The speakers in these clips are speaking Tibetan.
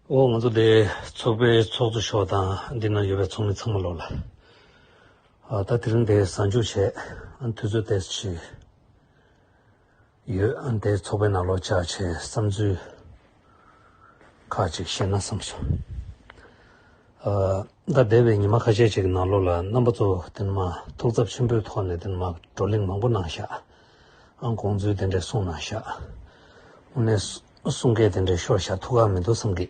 ཨོ་ང་ཚོ་འདི་ཚོགས་པའི་ཚོགས་གཙོ་མཆོག་དང་འདི་ན་ཡོད་པའི་ཚོགས་མི་ཚང་མ་ལོག་ལ། ད་དེ་རིང་དེ་གཟའ་མཇུག་བྱས་དུས་ཚོད་དེ་ཕྱིན་ཡོད་དེ་ཚོགས་པའི་ནང་ལོག་བཅར་བྱས་བསམ་ཚུལ་ཁག་ཅིག་བཤད་ན་བསམ་སོང། ད་འདས་པའི་ཉི་མ་ཁ་ཤས་ཅིག་གི་ནང་ལོག་ལ་རྣམ་པ་ཚོ་དེ་ནི་མ་ཐུགས་ཚབ་ཆེན་པོའི་ཐོག་ནས་དེ་ནི་མ་བགྲོ་གླེང་མང་པོ་གནང་ཤག། ཨང་གོང་ཚོས་དེ་འདྲས་གསུངས་ན་ཤག་དངོས་གནས་གསུང་སྐད་དེ་འདྲས་ཤོར་ཤག་ཐུགས་ཁག་མི་འདུག་བསམ་གི།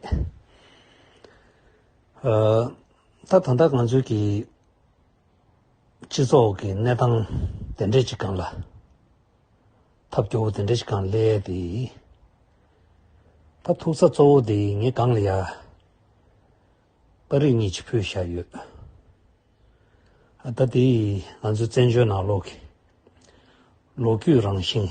ད་ད་ལྟ་ང་ཚོའི་གི་སྤྱི་ཚོགས་ཀྱི་གནས་སྟངས་དེ་འདྲས་ཅིག་གང་ལ། ཐབས་སྐྱོ་བོ་དེ་འདྲས་ཅིག་གང་སླེ་དེ། ད་ཐུགས་ཚ་གཙོ་བོ་དེ་ངས་གང་ལ་ཡ། པ་རིགས་གཉིས་ཀྱི་ཕུད་བཞག་ཡོད། ད་དེ་ང་ཚོའི་བཙན་བྱོལ་ནང་ལོག་གི་ལོ་རྒྱུས་རང་བཞིན།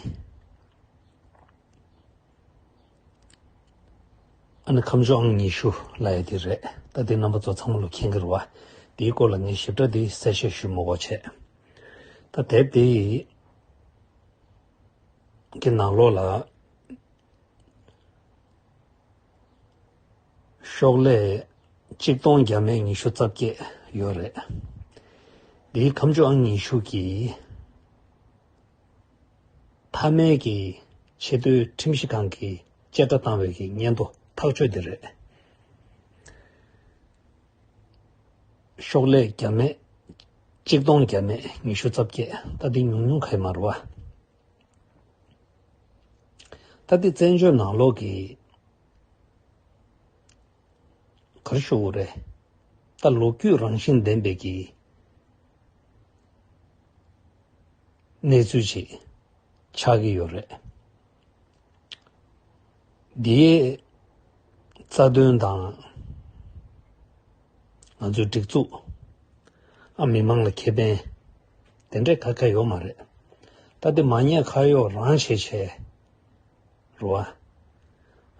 ཨ་ནི་ཁམས་ཕྱོགས་ཨང་ཉི་ཤུ་ལ་ཡོད་དེ་རེད། ད་དེ་རྣམ་པ་ཚོ་ཚང་མ་ལོ་ཁྱེད་འགེར་བ་དེའི་སྐོར་ལ་ངས་ཞིབ་ཕྲ་དེ་གསལ་བཤད་ཞུས་མོ་བ་བྱས། ད་དེབ་དེ་གི་ནང་ལོག་ལ། ཤོག་ལྷེ་གཅིག་སྟོང་བརྒྱ་མེད་ཉི་ཤུ་རྩ་བརྒྱད་ཡོད་རེད། འདིའི་ཁམས་ཆུ་ཨང་ཉི་ཤུ་གྱི་མཐའ་མའི་གི་ཆེད་དུ་ཁྲིམས་ཞིབ་ཁང་གིས་བཅད་ཁྲ་བཏང་བའི་གི་སྙན་ཐོ་ཐག་གཅོད་དེ་རེད། ཤོག་ལྷེ་བརྒྱ་མེད་གཅིག་སྟོང་བརྒྱ་མེད་ཉི་ཤུ་རྩ་བརྒྱད་ད་འདི་ཉུང་ཉུང་ག་ཡི་མ་རུ་བ། ད་ལྟའི་བཙན་བྱོལ་ནང་ལོག་གི་གར་ཤོར་བོ་རེད། ད་ལོ་རྒྱུས་རང་བཞིན་ལྡན་པའི་གི་གནས་ཚུལ་ཞིག་ཆགས་ཀྱི་ཡོད་རེད། དེའི་རྩ་དོན་དང། ང་ཚོའི་སྒྲིག་འཛུགས། ཨ་མི་མང་ལ་ཁེ་ཕན། དེ་འདྲའི་ཁ་ཁ་ཡོད་མ་རེད། ད་དེ་མ་ཉེས་ཁ་གཡོག་རང་བྱས་བྱས་རུ་ཨ།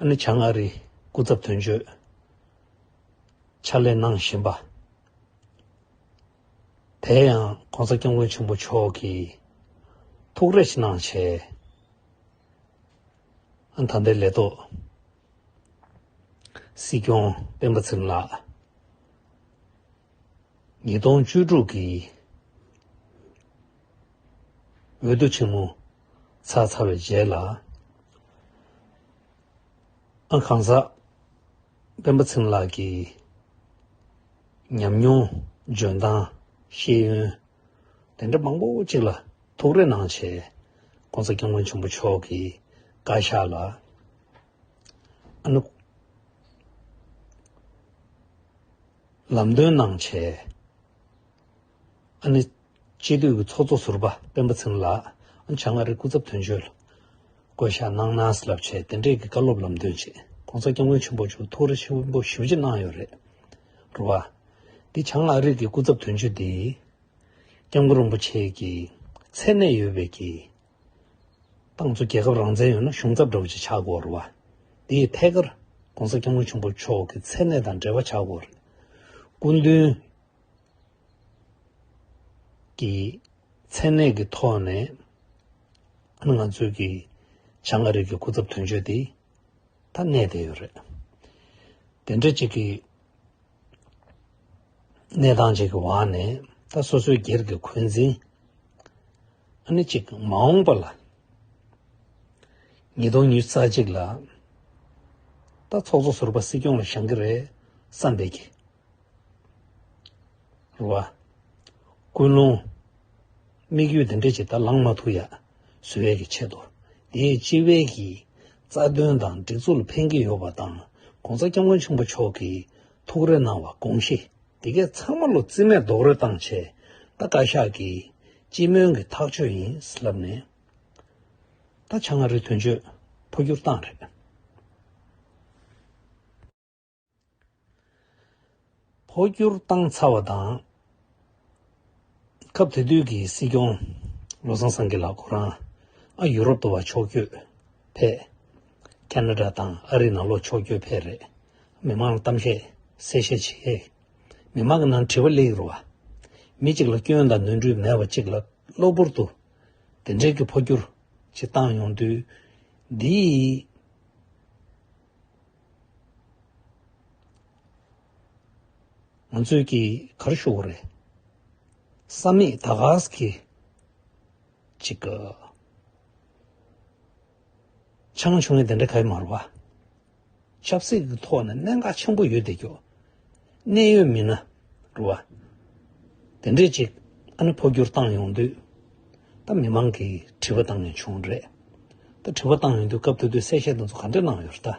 ཨ་ནི་བྱང་ཨ་རིའི་སྐུ་ཚབ་དོན་གཅོད་ཕྱག་ལས་གནང་བཞིན་པ། དེ་ཡང ྋགོང་ས ྋསྐྱབས་མགོན་ཆེན་པོ་མཆོག་གིས་ཐུགས་རེ་ཕྱི་ནང་བྱས་ཨ། ད་ལྟའི་ལས་ཐོག་སྲིད་སྐྱོང་སྤེན་པ་ཚེ་རིང་ལགས། ཉིས་སྟོང་བཅུ་དྲུག་གི་འོས་བསྡུ་ཆེན་མོ་ཚར་ཚར་བའི་རྗེས་ལ། ཨང་གང་ཟག་སྤེན་པ་ཚེ་རིང་ལགས་ཀྱི་ཉམས་མྱོང་འཇོན་ཐང་ཤེས་ཡོན་དེ་འདྲ་མང་པོ་ཅིག་ལ་ཐུགས་རེ་གནང་ཆེད ྋགོང་ས་སྐྱབས་མགོན་ཆེན་པོ་མཆོག་གི་བཀའ་ཤག་ལ། ཨ་ནུ། ལམ་སྟོན་གནང་བྱས། ཨ་ནི། སྤྱི་འཐུས་ཀྱི་ཚོགས་གཙོ་ཟུར་པ་སྤེན་པ་ཚེམ་ལགས་བྱང་ང་རིའི་སྐུ་ཚབ་དོན་གཅོད་ལ་བསྐོས་བཞག་གནང་གནང་ཟེར་ལབ་བྱས་དེ་འབྲེལ་གྱི་བཀའ་སློབ་ལམ་སྟོན་ཆེད ྋགོང་ས་སྐྱབས་མགོན་ཆེན་པོ་མཆོག་ཐུགས་རེ་ཆེན་པོ་ཞུ་རྒྱུ་གནང་ཡོད་རེད། རུ་བ། འདི་བྱང་ང་རིས་ཀྱི་སྐུ་ཚབ་དོན་གཅོད་འདིས ྋསྐྱབས་མགོན་རིན་པོ་ཆེ་གྱི་མཚན་གནས་ཡོད་པའི་གྱི་ཏང་ཙུའུ་རྒྱལ་ཁབ་རང་བཙན་ཡོད་ན་གཞུང་ཚབ་འདྲ་བོ་ཞིག་ཆགས་དགོས་རེད་བ། དེའི་ཐད་ཀར ྋགོང་ས ྋསྐྱབས་མགོན་ཆེན་པོ་མཆོག་གི་མཚན་གནས་དང་འབྲེལ་བ་ཆགས་དགོས་རེད། སྐུ་མདུན་གྱི་མཚན་གནས་ཀྱི་ཐོག་ནས་ང་ཚོའི་གི་བྱང་ཨ་རིག་གི་སྐུ་ཚབ་དོན་གཅོད་དེ་ད་གནས་བསྡད་ཡོད་རེད། དེ་འདྲ་ཅིག་གི་གནས་སྟངས་ཅིག་གི་བར་ནས་ད་སོ་སོའི་སྒེར་གྱི་འཁོན་འཛིན་ཨ་ནི་གཅིག་མ་འོངས་པ་ལ། ཉིས་སྟོང་ཉིས་རྩ་གཅིག་ལ། ད་ཚོགས་གཙོ་ཟུར་པ་སྲིད་སྐྱོང་ལ་བཞེངས་ཀྱི་རེད་བསམ་པའི་གི། རུ་བ། ཀུན་སློང། དམིགས་ཡུལ་འདི་འདྲ་ཅིག་ད་ལངས་མ་ཐུབ་ཡ། ཟོས་བས་ཀྱི་ཆེད་དུ། དེའི་སྤྱི་བའི་གི། རྩ་དོན་དང་སྒྲིག་འཛུགས་ལ་ཕན་གྱི་ཡོད་པ་དང་གོང་ས་སྐྱབས་མགོན་ཆེན་པོ་མཆོག་གིས། ཐུགས་རེ་གནང་བ་དགོངས་ཤིག་འདི་གས་ཚང་མ་ལོ་རྩིས་མེད་རྡོག་རོལ་བཏང་བྱས་ད་བཀའ་ཤག་གིས་སྤྱི་སྨོན་གྱི་ཐག་ཆོད་ཡིན་ལབ་ནས་ད་ཆ་མངའ་རིས་དོན་གཅོད་འཕོ་འགྱུར་བཏང་རེད། འཕོ་འགྱུར་བཏང་ཚར་བ་དང། སྐབས་དེ་དུས་ཀྱི་སྲིད་སྐྱོང་བློ་བཟང་སེང་གེ་ལགས་ཁོ་རང་ཨ་ཡུ་རོབ་ཏུ་བ་ཕྱོགས་བསྐྱོད་ཕེ། Canada། དང་ཨ་རི་ནང་ལོག་ཕྱོགས་བསྐྱོད་ཕེ་རེད། མི་མང་ལ་གཏམ་བཤད་གསལ་བཤད་བྱེད། མི་མང་གི་ནང་དྲི་བ་ལེགས་རུ་བ། མི་གཅིག་ལ་སྐྱོན་དང་ནོན་འཁྲུལ་མེད་པ་གཅིག་ལ་གློ་བུར་དུ་དེ་འདྲའི་གི་འཕོ་འགྱུར་ཅིག་བཏང་ཡོང་དུས་འདིའི་ང་ཚོས་ཀྱིས་གར་ཞུ་བ་རེད། བསམ་མེད་ད་གཟས་ཀྱིས། ཅིག་གི། ཆང་ཆུང་ནས་དེ་འདྲ་ག་ཡི་མ་རེད་བ། ཆབ་སྲིད་ཀྱི་ཐོག་ནས་གནད་འགག་ཆེན་པོ་ཡོད་དེ་ཀྱོ། གནད་ཡོད་མིན་ན་རེད་བ། དེ་འདྲས་ཅིག་ཨ་ནི་འཕོ་འགྱུར་བཏང་ཡོང་དུས། ད་མི་མང་གིས་དྲི་བ་བཏང་ཡོང་བྱུང་རེད། ད་དྲི་བ་བཏང་ཡོང་དུས་སྐབས་དེ་དུས་གསལ་བཤད་དེ་ཚོ་ག་འདྲས་གནང་ཡོད་རེད་ད།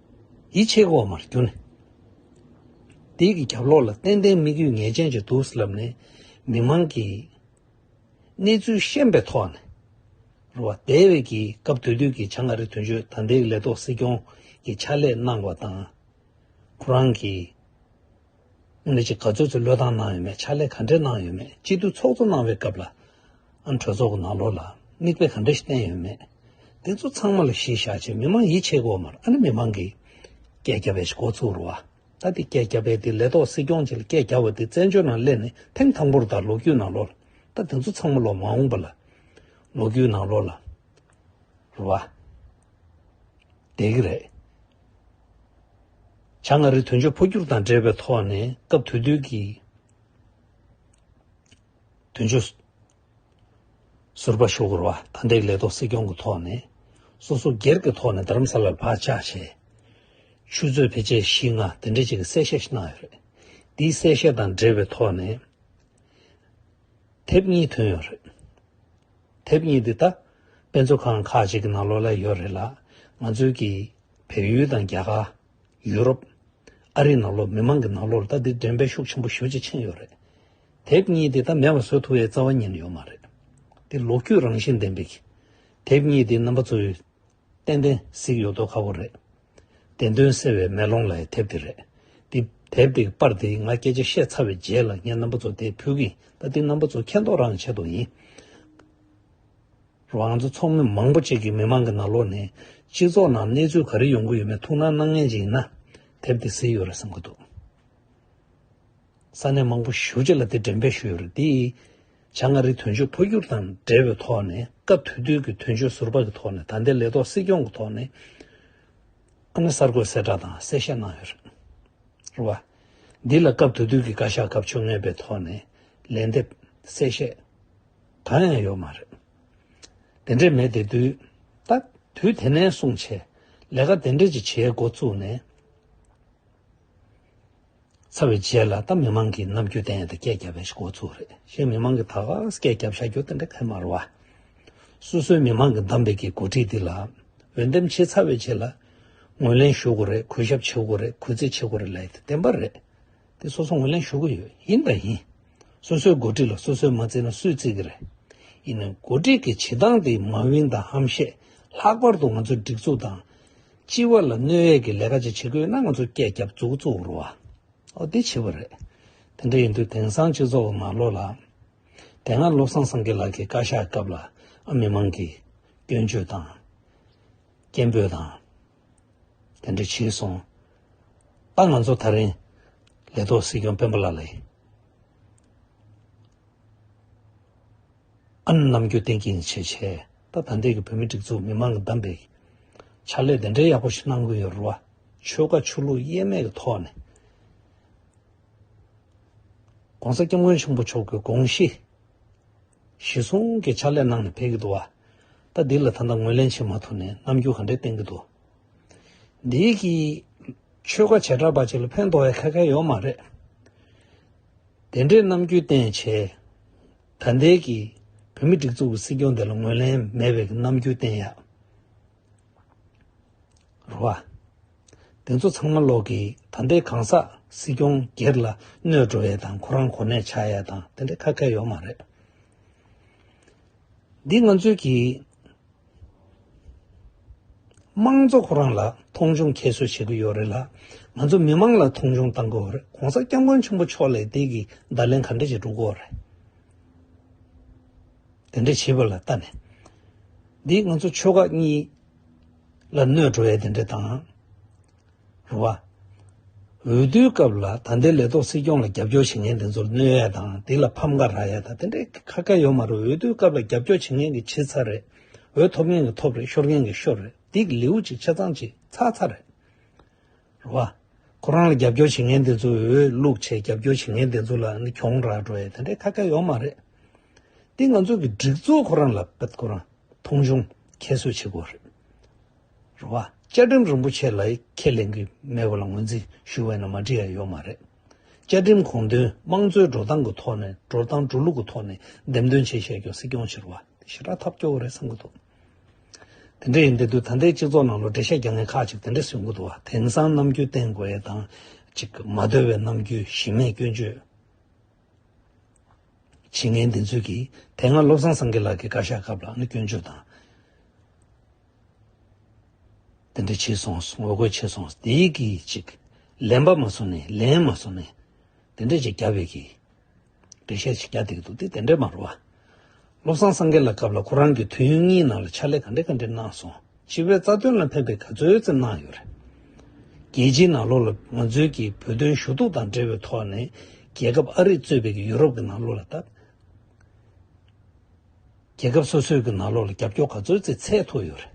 ཡིད་ཆེས་དབུ་མར་གྱུར་ནས། དེའི་གི་རྒྱབ་ལོགས་ལ་ཏན་ཏན་དམིགས་ཡུལ་ངེས་ཅན་གྱི་དུག་ལབ་ནས་མི་མང་གི་གནས་ཚུལ་ཤེས་པའི་ཐོག་ནས་རུ་བ་དེ་བས་ཀྱི་སྐབས་དུས་དུས་ཀྱི་བྱང་ཨ་རི་དོན་གཅོད་དང་དེའི་ལས་ཐོག་སྲིད་སྐྱོང་གི་ཕྱག་ལས་གནང་བ་དང་ཁོ་རང་གི་ནས་ཀྱི་ག་ཚོད་ཚོད་བློས་བཏང་གནང་ཡོད་མེད་ཕྱག་ལས་ག་འདྲས་གནང་ཡོད་མེད་སྤྱི་འཐུས་ཚོགས་གཙོ་གནང་བའི་སྐབས་ལ། ཨ་གྲོས་ཚོགས་གི་ནང་ལོགས་ལ་མིག་དཔེ་ག་འདྲ་ཞིག་བསྟན་ཡོད་མེད་དེ་ཚོ་ཚང་མ་ལ་གཞི་བཞག་ཆེད་མི་མང་ཡིད་ཆེས་སྒོ་མར་ཨ་ནི་མི་མང་གིས་སྐད་རྒྱབ་པའི་ཞིག་འགོ་ཚུགས་རུ་བ། ད་དེ་སྐད་རྒྱབ་པའི་དེ་ལས་ཐོག་སྲིད་སྐྱོང་གཅིག་ལ་སྐད་རྒྱབ་བ་དེ་བཙན་བྱོལ་ནང་སླེབས་ནས་ཐེངས་དང་པོར་ད་ལོ་རྒྱུས་ནང་ལོགས་ལ་ད་དེ་ཚོ་ཚང་མ་ལོགས་མ་འོངས་པ་ལ་ལོགས་རྒྱུས་ནང་ལོགས་ལ་རུ་བ། དེ་གི་རེད། བྱ་ལྔ་རི་དོན་གཅོད་འཕོ་འགྱུར་དང་འབྲེལ་བའི་ཐོག་ནས་སྐབས་དུས་དུས་ཀྱི་དོན་གཅོད། ཟུར་པ་ཞུ་སྒོར་བ་དང་འདེགས་ལས་ཐོག་སྲིད་སྐྱོང་གི་ཐོག་ནས་སོ་སོ་སྒེར་གྱི་ཐོག་ནས་རྡ་རམ་ས་ལར་བག་ཆགས་བྱས། ཆུ་ཚོད་བེད་སྤྱད་བཞི་ལྔ་དེ་འདྲའི་ཆེད་ཀྱི་གསལ་བཤད་ཞིག་གནང་ཡོད་རེད། འདིའི་གསལ་བཤད་དང་འབྲེལ་བའི་ཐོག་ནས་དེབ་གཉིས་ཐོན་ཡོད་རེད། དེབ་གཉིས་འདི་ད་དཔེ་མཛོད་ཁང་ཁག་ཅིག་གི་ནང་ལོག་ལེ་ཡོད་རེད་ལ་ང་ཚོའི་གི་བལ་ཡུལ་དང་རྒྱ་གར། ཡུ་རོབ། ཨ་རིའི་ནང་ལོག་མི་མང་གི་ནང་ལོག་ལ་ད་འདི་འགྲེམས་སྤེལ་ཤུགས་ཆེན་པོ་ཞུ་བྱེད་ཕྱིན་ཡོད་རེད། དེབ་གཉིས་འདི་ད་མེད་པ་བཟོ་ཐུབ་བའི་རྩ་བ་ཉིན་ཡོད་མ་རེད། འདི་ལོ་རྒྱུས་རང་བཞིན་ལྡན་པའི་གི་དེབ་གཉིས་འདི་རྣམ་པ་ཚོའི་ཏན་ཏན་གཟིགས་ཡོད་དོ་ཁ་བོ་རེད། བདེན་དོན་གསལ་བའི་མེ་ལོང་ལ་ཡི་དེབ་དེ་རེད། འདི་དེབ་དེ་གི་པར་དེ་ང་སྐད་ཆ་བཤད་ཚར་བའི་རྗེས་ལ་ངས་རྣམ་པ་ཚོ་དེ་ཕུལ་གི་ཡིན་ད་འདི་རྣམ་པ་ཚོ་མཁྱེན་རྟོགས་རང་བྱེད་དོ་ཡིན། རོ་ང་ཚོ་ཚོགས་མི་མང་པོ་གཅིག་གི་མི་མང་གི་ན་ལོག་ནས་སྤྱི་ཚོགས་ནང་གནས་ཚུལ་ག་རེ་ཡོང་གི་ཡོད་མེད་ཐུགས་སྣང་གནང་མཁན་གཅིག་ཡིན་ན་དེབ་དེ་གཟིགས་ཡོད་རེད་བསམ་གི་འདུག་ས་གནས་མང་པོ་བཞུགས་རྗེས་ལ་དེ་འགྲེམས་སྤེལ་ཞུས་ཡོད་རེད་དེ། བྱ་ལྔ་རི་དོན་གཅོད་འཕོ་འགྱུར་དང་འབྲེལ་བའི་ཐོག་ནས་སྐབས་དུས་དུས་ཀྱི་དོན་གཅོད་ཟུར་པ་གྱི་ཐོག་ནས་ད་ལྟའི་ལས་ཐོག་སྲིད་སྐྱོང་གི་ཐོག་ནས་ཨ་ན་གསར་འགོད་གསལ་བསྒྲགས་དང་གསལ་བཤད་གནང་ཡོད་རེད། རེད་བ། འདི་ལ་སྐབས་དུས་དུས་ཀྱི་བཀའ་ཤག་སྐབས་བཅོ་ལྔའི་པའི་ཐོག་ནས་ལན་འདེབས། གསལ་བཤད། གང་ཡང་ཡོད་མ་རེད། དེ་འདྲས་མེད་དེ་དུས་ད་དུས་དེ་ནས་བཟུང་ཆེད་ལས་ཀ་དེ་འདྲས་ཀྱི་བྱེད་སྒོ་བཙུགས་ནས། ཚར་བའི་རྗེས་ལ་ད་མི་མང་གིས་ནམ་རྒྱུན་བསྟན་ཡོད་དེ་སྐད་བརྒྱབ་པའི་ཤོག་ཚུགས་རེད་ཞེས་མི་མང་གིས་ད་ག་ཟེ་སྐད་བརྒྱབ་བཞག་རྒྱུ་དེ་འདྲ་ཁས་མ་རུ་བ། སོ་སོའི་མི་མང་གི་གདམས་པའི་གི་གོ་སྒྲིག་འདི་ལ་འོས་འདེམས་བྱས་ཚར་བའི་རྗེས་ལ་ངོས་ལེན་ཞུ་དགོས་རེད་གུས་ཞབས་བྱེད་དགོས་རེད་གུས་བརྩི་བྱེད་དགོས་རེད་ལབ་དེ་བདེན་པ་རེད་དེ་སོ་སོ་ངོས་ལེན་ཞུ་གི་ཡོད་ཡིན་དང་ཡིན། སོ་སོའི་གོ་སྒྲིག་ལ་སོ་སོས་མ་བརྩི་ན་སུས་བརྩི་གི་རེད། ཡིན་ནའི་གོ་སྒྲིག་གི་བྱེད་སྟངས་དེ་མ་དབྱིངས་དང་ཧམ་བཤད་ལྷག་པར་དུ་ང་ཚོའི་སྒྲིག་འཛུགས་དང། སྤྱི་བ་ལ་གནོད་ཡས་ཀྱི་ལས་ཀ་ཅིག་བྱེད་དགོས་ན་ང་ཚོ་སྐད་རྒྱབ་བཙུགས་བཙུགས་རུ་བ་འོ་དེ་བྱེད་པ་རེད། དེ་འདྲ་ཡིན་དུས་དེང་སང་སྤྱི་ཚོགས་མ་བློ་ལ། དེ་སྔ་བློ་བཟང་སེང་གེ་ལགས་ཀྱི་བཀའ་ཤག་སྐབས་ལ་ཨ་མི་མང་གིས་སྐྱོན་བརྗོད་དང། སྐད་འབོད་དང། དེ་འདྲ་བྱས་སོང། ད་ང་ཚོ་ད་རིང་ལས་ཐོག་སྲིད་སྐྱོང་སྤེན་པ་ལགས་ལས། ཨ་ནམ་རྒྱུན་བསྟེན་གྱིན་བྱས་བྱས། ད་ལྟ་འདས་ཀྱི་བོད་མི་སྒྲིག་འཛུགས་མི་མང་གི་གདམས་པའི་ཕྱག་ལས་དེ་འདྲའི་ཡག་པོ་ཞིག་གནང་དགོས་ཡོད་རེད་བ། ཆོལ་ཁ་ཆོས་ལུགས་དབྱེར་མེད་ཀྱི་ཐོག་ནས ྋགོང་ས ྋསྐྱབས་མགོན་ཆེན་པོ་མཆོག་གི་དགོངས་གཞི་གཞི་བཟུང་གི་ཕྱག་ལས་གནང་ནས་ཕེབས་ཀྱི་འདུག་བ། ད་འདི་ལ་ད་ལྟ་ངོས་ལེན་བྱེད་མ་ཐུབ་ནས་རྣམ་འགྱུར་ག་འདྲའི་བསྟན་གྱི་འདུག་འདི་གི་ཆོལ་ཁ་བྱེ་བྲག་པ་ཅིག་ལ་ཕན་ཐོག་ཡ་ཁ་ཁ་ཡོད་མ་རེད། དེ་འདྲའི་རྣམ་འགྱུར་བསྟན་བྱས་ད་ལྟའི་གི་བོད་མི་སྒྲིག་འཛུགས་ཀྱི་སྲིད་སྐྱོང་དེ་ལ་ངོས་ལེན་མེད་པའི་གི་རྣམ་འགྱུར་བསྟན་ཡག་རོ་བ། དེ་ཚོ་ཚང་མ་ལོག་གི་ད་ལྟའི་གང་ཟག་སྲིད་སྐྱོང་སྒེར་ལ་གནོད་འགྲོ་ཡག་དང་ཁོ་རང་གོ་གནས་ཆགས་ཡག་དང་དེ་འདྲའི་ཁ་སྐད་ཡོག་མ་རེད། འདི་ང་ཚོའི་གི། དམངས་གཙོ་ཁོ་རང་ལ་མཐོང་ཆུང་ཁྱད་གསོད་བྱེད་ཀྱི་ཡོད་རེད་ལ། ང་ཚོ་མི་དམངས་ལ་མཐོང་ཆུང་བཏང་གི་འོ་རེད་གོང་ས་སྐྱབས་མགོན་ཆེན་པོ་མཆོག་ལས་དེ་གི་བརྡ་ལན་ག་འདྲ་ཞིག་འགྲུག་གི་འོ་རེད། དེ་འདྲ་བྱེད་པ་ལ་ལྟ་ནས། འདི་ང་ཚོ་ཆོལ་ཁ་གཉིས་ལ་གནོད་འགྲོ་བའི་དེ་འདྲ་དང། རུ་བ། འོས་བསྡུའི་སྐབས་ལ་ད་ལྟའི་ལས་ཐོག་སྲིད་སྐྱོང་ལ་རྒྱབ་སྐྱོར་བྱེད་མཁན་དེ་ཚོར་གནོད་ཡ་དང་དེ་ལ་ཕམ་ཁ་རག་ཡ་དང་དེ་འདྲའི་ཁ་ཁ་ཡོད་མ་རུང་འོས་བསྡུའི་སྐབས་ལ་རྒྱབ་སྐྱོར་བྱེད་མཁན་གྱི་བྱེད་ཚར་རེད། འོས་ཐོབ་མཁན་གྱི་ཐོབ་རེད་ཤོར་མཁན་གྱི་ཤོར་རེད་འདི་གི་ལེའུ་གཅིག་ཆ་ཚང་གཅིག་ཚ་ཚ་རེད། རུ་བ། ཁོ་རང་ལ་རྒྱབ་སྐྱོར་བྱེད་མཁན་དེ་ཚོ་འོས་བླུག་ཆེད་རྒྱབ་སྐྱོར་བྱེད་མཁན་དེ་ཚོ་ལ་ནི་གྱོང་རག་འགྲོ་ཡ་དེ་འདྲའི་ཁ་ཁ་ཡོད་མ་རེད། འདི་ང་ཚོ་གི་སྒྲིག་འཛུགས་ཁོ་རང་ལ་ཁོ་རང་མཐོང་ཆུང་ཁྱད་གསོད་བྱེད་དགོས་རེད། རེད། རེད་བ། བཅའ་ཁྲིམས་རིན་པོ་ཆེ་ལ་ཁས་ལེན་གི་མེད་པ་ལ་ངོས་འཛིན་ཞུ་བས་ན་མ་འགྲིག་ཡ་ཡོད་མ་རེད། བཅའ་ཁྲིམས་གོང་དོན་དམངས་གཙོའི་འགྲོ་སྟངས་གི་ཐོག་ནས་འགྲོ་སྟངས་འགྲོ་ལུགས་གི་ཐོག་ནས་འདེམས་ཐོན་བྱེད་བཤད་སྐྱོང་སྲིད་སྐྱོང་བྱེད་རུ་བ་དེ་ཞེ་དྲག་ཐབས་སྐྱོ་བོ་རེད་བསམ་གི་འདུག་དེ་འདྲ་ཡིན་དེ་དུས་ད་ལྟའི་སྤྱི་ཚོགས་ནང་ལོ་འབྲས་ཤ་རྒྱག་མཁན་ཁག་ཅིག་དེ་འདྲ་ཟོས་གི་འདུག་དེང་སང་ནམ་རྒྱུན་བསྟན་དགོས་ཡས་དང་ཅིག་མ་འདོད་བའི་ནམ་རྒྱུན་གཞི་མེད་སྐྱོན་བརྗོད། བྱས་ངན་འདི་ཚོད་ཀྱིས་དེ་སྔ་བློ་བཟང་སེང་གེ་ལགས་ཀྱི་བཀའ་ཤག་སྐབས་ལ་ནི་སྐྱོན་བརྗོད་དང། དེ་འདྲ་བྱས་སོང་ངོ་རྒོལ་བྱས་སོང་དེ་གི་ཅིག་ལན་པ་མ་བཟོ་ནས་ལན་མ་བཟོ་ནས་དེ་འདྲ་ཅིག་རྒྱབ་ཡོད་ཀྱི། འགྲེལ་བཤད་ཅིག་རྒྱག་འདེགས་འདུག་དེ་དེ་འདྲ་མ་རུ་བ། བློ་བཟང་སེང་གེ་ལགས་སྐབས་ལ་ཁོ་རང་གི་དུས་ཡུན་གཉིས་ནང་ལ་ཕྱག་ལས་ག་འདྲ་ག་འདྲ་གནང་སོང། སྤྱི་བའི་རྩ་དོན་ལ་ཕན་པའི་ག་ཚོད་ཙམ་གནང་ཡོད་རེད། རྒྱལ་སྤྱིའི་ནང་ལོགས་ལ་ང་ཚོའི་ཀྱི་བོད་དོན་ཞུ་གཏུག་དང་འབྲེལ་བའི་ཐོག་ནས་རྒྱལ་ཁབ་ཨ་རིས་གཙོས་པའི་ཀྱི་ཡུ་རོབ་ཀྱི་ནང་ལོགས་ལ་ལྟ། རྒྱལ་ཁབ་སོ་སོའི་ཀྱི་ནང་ལོགས་ལ་རྒྱབ་སྐྱོར་ག་ཚོད་ཙི་ཚད་ཐུག་ཡོད་རེད།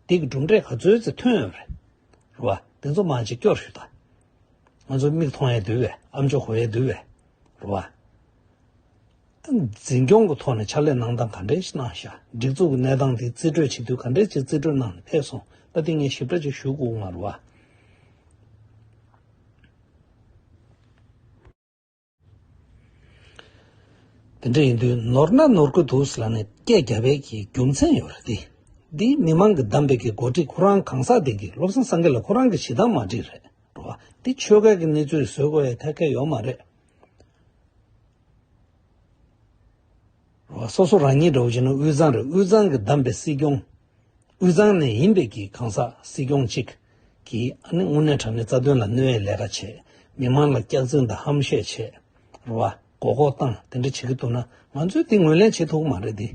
དེ་ཀྱི་གྲུབ་འབྲས་ག་ཚོད་ཙི་ཐོན་ཡོད་རེད། རེད་བ། དེ་ཚོ་མང་ཅིག་སྐྱོར་ཞུ་ད། ང་ཚོ་མིག་མཐོང་ཡས་དུས་བས་ཨམ་ཅོག་གོ་ཡས་དུས་བས། རེད་བ། འཛིན་སྐྱོང་གི་ཐོག་ནས་ཕྱག་ལས་གནང་སྟངས་ག་འདྲའི་གནང་བཞག་སྒྲིག་འཛུགས་ཀྱི་གནས་སྟངས་དེ་རྩིས་སྤྲོད་བྱེད་དུས་ག་འདྲའི་ཆེད་རྩིས་སྤྲོད་གནང་ནས་ཕེབས་སོང་ལ་དེ་ངས་ཞིབ་ཕྲ་ཅིག་ཞུ་དགོས་ངར་བ། དེ་འདྲ་ཡིན་དུས་ནོར་ན་ནོར་གི་འདུག་ཟེར་ལ་ནི་སྐད་རྒྱ་བས་ཀྱི་རྒྱུ་མཚན་ཡོད་རེད་དེ། འདི་མི་མང་གི་གདམས་པས་ཀྱི་འགོ་ཁྲིད་ཁོ་རང་གང་ཟག་དེ་གིས་བློ་བཟང་སངྒེ་ལ་ཁོ་རང་གི་ཞེ་སྡང་མ་འདྲིས་རེད་འགྲོ་བ། འདི་ཆོལ་ཁ་གི་གནས་ཚུལ་བཟོས་དགོས་ཡས་ཐད་ཀ་ཡོད་མ་རེད། སོ་སོ་རང་ཉིད་འདྲ་བོ་ཞིག་ནི་དབུས་གཙང་རེད་དབུས་གཙང་གིས་བདམས་པའི་སྲིད་སྐྱོང། དབུས་གཙང་ནས་ཡིན་པའི་གི་གང་ཟག་སྲིད་སྐྱོང་གཅིག་གིས་ཨ་ནི་དངོས་གནས་དྲ་གནས་རྩ་དོན་ལ་གནོད་ཡས་ལས་ཀ་བྱས། མི་མང་ལ་སྐྱག་རྫུན་དང་ཧམ་བཤད་བྱས། རུ་བ། མགོ་སྐོག་བཏང་དེ་འདྲ་བྱེད་གི་འདུག་ན་ང་ཚོས་དེ་ངོས་ལེན་བྱེད་ཐུབ་གི་མ་རེད་དེ།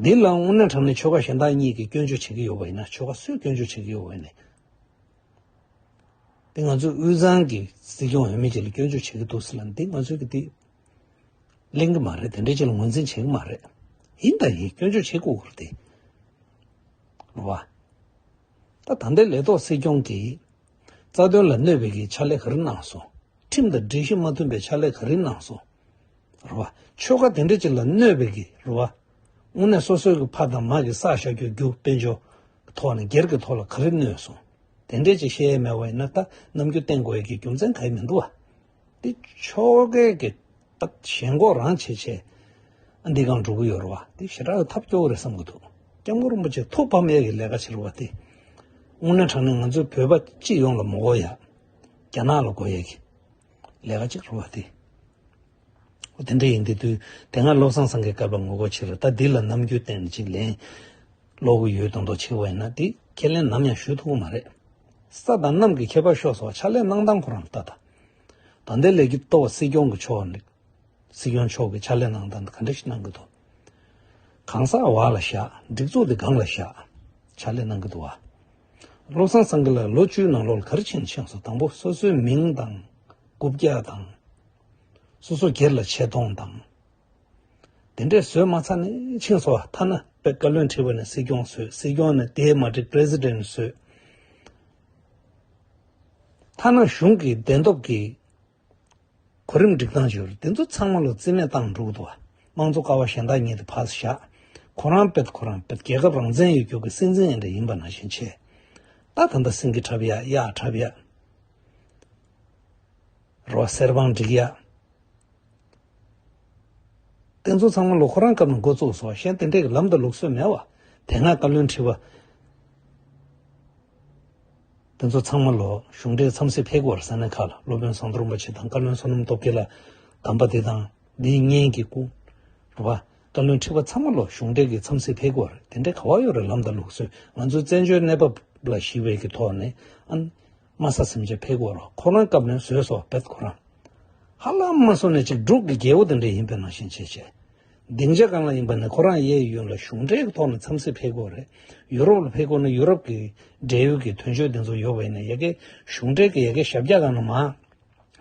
འདི་ལ་དངོས་གནས་དྲ་གནས་ཆོལ་ཁ་གཞན་དག་གཉིས་ཀྱིས་སྐྱོན་བརྗོད་བྱེད་ཀྱི་ཡོད་པ་ཡིན་ན་ཆོལ་ཁ་སུས་སྐྱོན་བརྗོད་བྱེད་ཀྱི་ཡོད་འོས་ནས། དེ་ང་ཚོས་དབུས་གཙང་གི་སྲིད་སྐྱོང་འོས་མི་བཅས་ལ་སྐྱོན་བརྗོད་བྱེད་ཀྱི་འདུག་ཟེར་ན་འདི་ང་ཚོས་འདི་གླེང་གི་མ་རེད་དེ་འདྲའི་ཆེད་ལ་ངོས་འཛིན་བྱེད་ཀྱི་མ་རེད། ཡིན་དང་ཡིན་སྐྱོན་བརྗོད་བྱེད་དགོས་ཀྱི་རེད། འགྲོ་བ། ད་ད་ལྟའི་ལས་ཐོག་སྲིད་སྐྱོང་གིས་རྩ་དོན་ལ་གནོད་པའི་གི་ཕྱག་ལས་ག་རེ་གནང་སོང། ཁྲིམས་དང་སྒྲིག་གཞི་མ་མཐུན་པའི་ཕྱག་ལས་ག་རེ་གནང་སོང། རེད་བ། ཆོལ་ཁ་དེ་འདྲའི་ཆེད་ལ་གནོད་པའི་གི་རེད་བ། དངོས་གནས་སོ་སོའི་ཕ་དང་མ་གི་བསགས་བཞག་རྒྱུ་རྒྱུ་དཔེ་འཇོག་གི་ཐོག་ནས་སྒེར་གྱི་ཐོག་ལ་ག་རེ་གནོད་སོང་དེ་འདྲས་ཅིག་བཤད་ཡས་མེད་བ་ཡིན་ན་ད་ནམ་རྒྱུ་བསྟན་དགོས་ཡས་ཀྱི་རྒྱུ་མཚན་ག་ཡི་མི་འདུག་བ། འདི་ཕྱོགས་གས་ཀྱི་ད་ཞེན་ཁོག་རང་བྱེད་བྱེད་ཨ་འདི་གང་འགྲོ་གི་ཡོད་རེད་བ་འདི་ཞེ་དྲག་གི་ཐབས་སྐྱོ་བོ་རེད་བསམ་གི་འདུག་སྐྱབས་མགོན་རིན་པོ་ཆེ་ཐུགས་ཕམ་ཡས་ཀྱི་ལས་ཀ་བྱེད་རུ་བ་འདི་དངོས་གནས་དྲང་གནས་ང་ཚོའི་བོད་པ་སྤྱི་ཡོངས་ལ་མོ་གོ་ཡས་རྒྱ་ནག་ལ་གོ་ཡས་ཀྱི་ལས་ཀ་གཅིག་རུ་བ་འདི། དེ་འདྲ་ཡིན་དུས་དུས་དེ་སྔ་བློ་བཟང་སང་གེ་བཀར་པ་ངོ་རྒོལ་བྱེད་རུང་ད་འདི་ལ་ནམ་རྒྱུན་བསྟན་ནས་ཅིག་ལན་སློག་གི་ཡོད་དོན་དོ་ཆེ་བ་ཡིན་ན་དེ་ཁས་ལེན་ནམ་ཡང་ཞུ་ཐུབ་ཀི་མ་རེད། ས་དང་གནམ་གི་ཁྱད་པར་ཤོག་སོགས་ཕྱག་ལས་གནང་སྟངས་ཁོ་རང་ལྟ་ད་འདི་ལས་ཀྱི་ལྟོ་བ་སྲིད་སྐྱོང་གི་ཕྱོགས་ནས་སྲིད་སྐྱོང་མཆོག་གི་ཕྱག་ལས་གནང་སྟངས་འདི་ག་འདྲ་ཞིག་གནང་གི་འདུག་གང་ཟག་བག་ལ་བཞག་སྒྲིག་འཛུགས་དེ་སྒང་ལ་བཞག་ཕྱག་ལས་གནང་གི་འདུག་བློ་བཟང་སང་གེ་ལ་ལོ་བཅུའི་ནང་ལོག་ལ་ག་རེ་བྱས་ནས་ཕྱིན་སོང་དང་པོ་སོ་སོའི་མིང་དང་སྐུ་བརྒྱ་དང། སོ་སོ་སྒེར་ལ་ཆེ་མཐོང་དང། དེ་འདྲས་བཟོས་མ་ཚར་ནས་ཕྱིན་བཟོ་བ་ཐ་ན་བོད་བཀའ་བློན་ཁྲི་པ་ནས་སྲིད་སྐྱོང་བཟོས་སྲིད་སྐྱོང་ནས་དེའི་མ་འགྲིག president བཟོས། ཐ་ན་གཞུང་གི་བདེན་སྟོབས་ཀྱི་གོ་རིམ་སྒྲིག་སྟངས་བྱུ་རུ་དེ་ཚོ་ཚང་མ་ལོ་རྩིས་མེད་བཏང་འགྲོ་གི་འདུག་བ་དམངས་གཙོ་ཀ་བ་གཞན་དག་ཉིད་ཕར་བཞག་ཁོ་རང་བེད་ཁོ་རང་བེད་རྒྱལ་ཁབ་རང་བཙན་ཡོད་རྒྱུག་གི་སྲིད་འཛིན་ཨེ་འདྲ་ཡིན་པ་ནང་བཞིན་ཆེ་ལྟ་ད་ལྟ་སེང་གེ་འཁྲབ་ཡག་ཡག་འཁྲབ་ཡག། རོ་གསེར་བང་སྒྲིག་ཡ། རྟེན་གཙོ་ཚང་མ་ལོ་ཁོ་རང་སྐབས་ནས་འགོ་བཙུགས་སོ་གཞན་དེ་འདྲས་ཀྱི་ལམ་དུ་ལུགས་སྲོལ་མེད་བ། དེ་སྔ་བཀའ་བློན་ཁྲི་པ། རྟེན་གཙོ་ཚང་མ་ལོ་གཞུང་འབྲེལ་འཚམས་གཟིགས་ཕེབས་དགོས་པར་ས་གནས་ཁག་ལ་སློབ་དཔོན་ཟངས་མདོག་རིན་པོ་ཆེ་དང་བཀའ་བློན་བསོད་ནམས་སྟོབས་རྒྱལ་ལ་གདམས་པ་འདི་དང་འདི་གཉིས་ཀྱི་སྐུ། རུ་བ། བཀའ་བློན་ཁྲི་པ་ཚང་མ་ལོ་གཞུང་འབྲེལ་གྱི་འཚམས་གཟིགས་ཕེབས་དགོས་པར་དེ་འདྲས་ག་བ་ཡོད་རེད་ལམ་དང་ལུགས་སྲོལ་ང་ཚོའི་བཙན་བྱོལ་གནས་བབ་ལ་ཞི་བའི་གི་ཐོག་ནས་ཨ། དམའ་ས་སེམས་ཅན་ཕལ་གོར་ཁོ་རང་སྐབས་ནས་བཟོས་སོ་བེད་ཁོ་རང། ཧ་ལམ་དམའ་སོ་ནི་གཅིག་དྲུག་གི་རྒྱལ་བོ་དེ་འདྲ་ཡིན་པའི་ནང་བཞིན་བྱེད་བྱེད། སྡིངས་ཆ་གང་ལ་ཡིན་པ་ནི་ཁོ་རང་གཡས་གཡོན་ལ་གཞུང་འབྲེལ་གྱི་ཐོག་ནས་འཚམས་གཟིགས་ཕལ་གོར་རེད། ཡུ་རོབ་ལ་ཕལ་གོར་ནི་ཡུ་རོབ་ཀྱི་འབྲེལ་ཡོད་ཀྱི་དོན་གཅོད་དེ་ཚོ་ཡོད་བས་ནི་ཡ་གའི་གཞུང་འབྲེལ་གྱི་ཡ་གའི་ཞབས་བཀྱག་གང་ན་མ།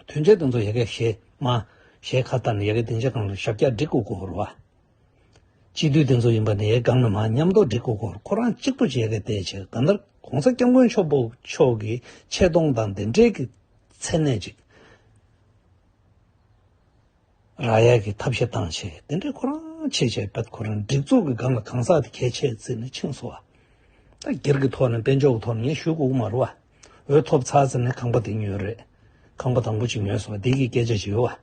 དོན་གཅོད་དེ་ཚོ་ཡ་གའི་ཞེས་མ། ཞེས་ཁ་བཏགས་ནས་ཡ་གའི་སྡིངས་ཆ་གང་ལ་ཞབས་བཀྱག་སྒྲིག་དགོས་གོར་བ། སྤྱི་འཐུས་དེ་ཚོ་ཡིན་པ་ནི་གང་ནས་མ་ཉམས་རྡོ་སྒྲིག་གོ་གོར་ཁོ་རང་གཅིག་པུ་བྱས་ཀི་བལྟས་ཕྱིར་ད་ལྟ་གོང་ས་སྐྱབས་མགོན་ཆོས་འཕོབ་མཆོག་གི་ཆེ་མཐོང་དང་དེ་འབྲེལ་གི་མཚན་གནས་ཅིག་རག་ཡ་གི་ཐབས་ཤེས་སྟངས་ཆེ་དེ་འདྲས་ཁོ་རང་ཆེ་བྱས་བལྟ་ཁོ་རང་སྒྲིག་འཛུགས་གི་སྒང་ལ་གང་ཟག་དེ་གལ་ཆེ་བརྩི་ནས་ཕྱིན་སོང་བ་ད་སྒེར་གི་ཐོག་ནས་དཔལ་འབྱོར་གི་ཐོག་ནས་ངས་ཞུ་གི་དབུ་མ་རུ་བ་འོས་ཐོབ་ཚར་ཟེར་ནས་ཁང་པ་དེ་ཉོས་རེད་ཁང་པ་དང་པོ་གཅིག་ཉོས་སོང་བ་དེ་གི་སྐད་ཆ་ཞིག་ཡོད་བ།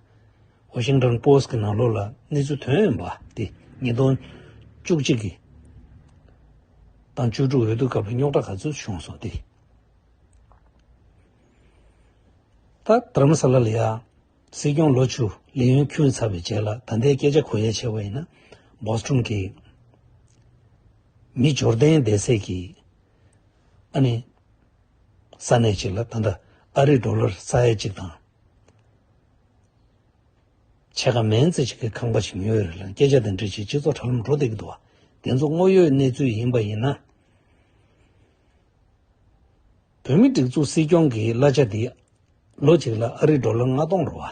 Washington Post གི་ནང་ལོགས་ལ་གནས་ཚུལ་དོན་ཡོད་པ་སྟེ་ཉིས་སྟོང་བཅུ་གཅིག་གི་དང་བཅུ་དྲུག་འོས་བསྡུ་སྐབས་རྙོག་དྲ་ག་ཚོད་བྱུང་སོང་སྟེ། ད་དྷརྨ་ས་ལ་ལ་ཡ། སྲིད་སྐྱོང་ལོ་བཅུ་ལས་ཡུན་ཁྱུད་ཚར་བའི་རྗེས་ལ་ད་ལྟའི་སྐད་ཆ་གོ་ཡ་བྱས་པ་ཡིན་ན Boston གི་མི་འབྱོར་ལྡན་བསྡད་སའི་གི་ཨ་ནི་ས་གནས་གཅིག་ལ་ད་ལྟ་ཨ་རི Dollar ས་ཡ་གཅིག་དང་ཆེ་ཁ་མན་ཙེ་ཞིག་གིས་ཁང་པ་ཞིག་ཉོས་ཡོད་རེད་ལ་སྐད་ཆ་དེ་འདྲ་བྱས་སྤྱི་ཚོགས་དྲ་ལམ་འགྲོ་བསྡད་ཀྱི་འདུག་བ་དེ་ཚོ་དངོས་ཡོད་གནས་ཚུལ་ཡིན་པ་ཡིན་ན། བོད་མི་སྒྲིག་འཛུགས་སྲིད་སྐྱོང་གི་གླ་ཆ་དེ་ལོ་གཅིག་ལ་ཨ་རི་འགྲོ་ལ་ལྔ་སྟོང་རེད་བ།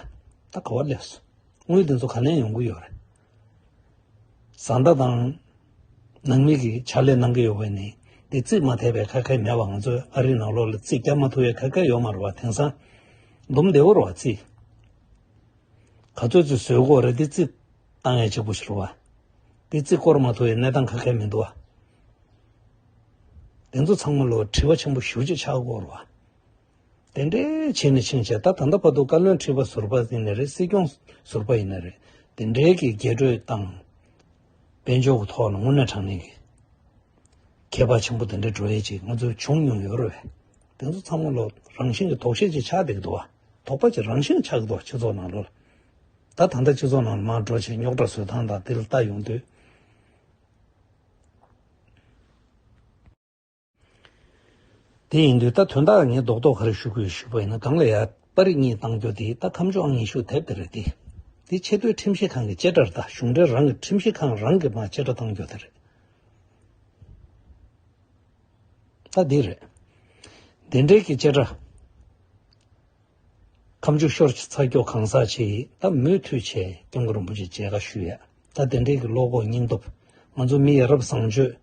ད་ག་བ་སླེབས་སོང། དངུལ་དེ་ཚོ་ག་ནས་ཡོང་གི་ཡོད་རེད། བཟའ་ཟླ་དང་ནང་མི་གིས་ཕྱག་ལས་གནང་གི་ཡོད་པ་ནི་དེ་རྩིས་མ་ཐེབས་པའི་ཁ་ཁ་མེད་པ་ང་ཚོས་ཨ་རིའི་ནང་ལོགས་ལ་རྩིས་རྒྱག་མ་ཐུབ་པའི་ཁ་ཁ་ཡོད་མ་རེད་པ་དེང་སང་འདུམ་བདེ་བོ་རེད་བ་རྩིས་ག་ཚོད་ཚོད་བཟོས་དགོས་རེད་དེ་རྩིས་བཏང་ཡས་ཅིག་པོ་ཞིག་རེད་བ་དེ་རྩིས་བསྐོར་མ་ཐུབ་པའི་གནས་སྟངས་ཁ་ཁ་མི་འདུག་བ་དེ་ཚོ་ཚང་མ་ལོ་དྲི་བ་ཆེན་པོ་ཞུ་ཅིག་ཆགས་དགོས་རེད་བ། དེ་འདྲའི་བྱས་ནས་ཕྱིན་ཆད་ད་ད་ལྟ་བར་དུ་བཀའ་བློན་ཁྲི་པ་ཟུར་པ་ཡིན་ནི་རེད་སྲིད་སྐྱོང་ཟུར་པ་ཡིན་ནི་རེད་དེ་འདྲའི་གི་རྒྱས་སྤྲོས་དང། དཔལ་འབྱོར་གི་ཐོག་ལ་དངོས་གནས་དྲང་གནས་ཀྱི་ཁྱད་པར་ཆེན་པོ་དེ་འདྲའི་བྲོ་ཡས་ཅིག་ང་ཚོས་བྱུང་མྱོང་ཡོད་རེད། དེ་ཚོ་ཚང་མ་ལོ་རང་བཞིན་གྱི་དོགས་གཞི་ཅིག་ཆགས་བསྡད་ཀྱི་འདུག་བ། དོགས་པ་ཅིག་རང་བཞིན་ཆགས་ཀྱི་འདུག་བ་སྤྱི་ཚོགས་ནང་ལོ་ལ། ད་ད་ལྟ་སྤྱི་ཚོགས་ནང་ལ་མར་འགྲོ་ཆེད་རྙོག་དྲ་བཟོས་སྟངས་དང་དེ་ལ་ལྟ་ཡོང་དུས། དེ་ཡིན་དུས་ད་དོན་དག་ངས་རྡོག་རྡོག་གར་ཞུ་དགོས་ཞུས་པ་ཡིན་ན་སྒང་ལ་ཡ་པ་རི་གཉིས་བཏང་རྒྱུ་དེ་ད་ཁམས་ཕྱོགས་ཨང་ཉི་ཤུ་དེབ་དེ་རེད་དེ། དེ་ཆེ་བསྟོད་ཁྲིམས་ཞིབ་ཁང་གི་བཅད་ཁྲར་དང་གཞུང་འབྲེལ་རང་གི་ཁྲིམས་ཞིབ་ཁང་རང་གིས་མ་བཅད་ཁྲ་བཏང་རྒྱུ་དེ་རེད། ད་དེ་རེད། དེ་འབྲེལ་གྱི་བཅད་ཁྲ། ཁམས་ཕྱོགས་ཤོར་ཚ་སྐྱོ་གང་ཟག་ཆེ་ཡིས་ད་མུས་མཐུས་བྱས་སྐྱོང་གི་རིན་པོ་ཆེ་མཇལ་ཁ་ཞུས་ཡ། ད་དེ་འབྲེལ་གྱི་བློ་ཁོག་སྙིང་སྟོབས། ང་ཚོ་མི་ཡ་རབས་བཟང་སྤྱོད།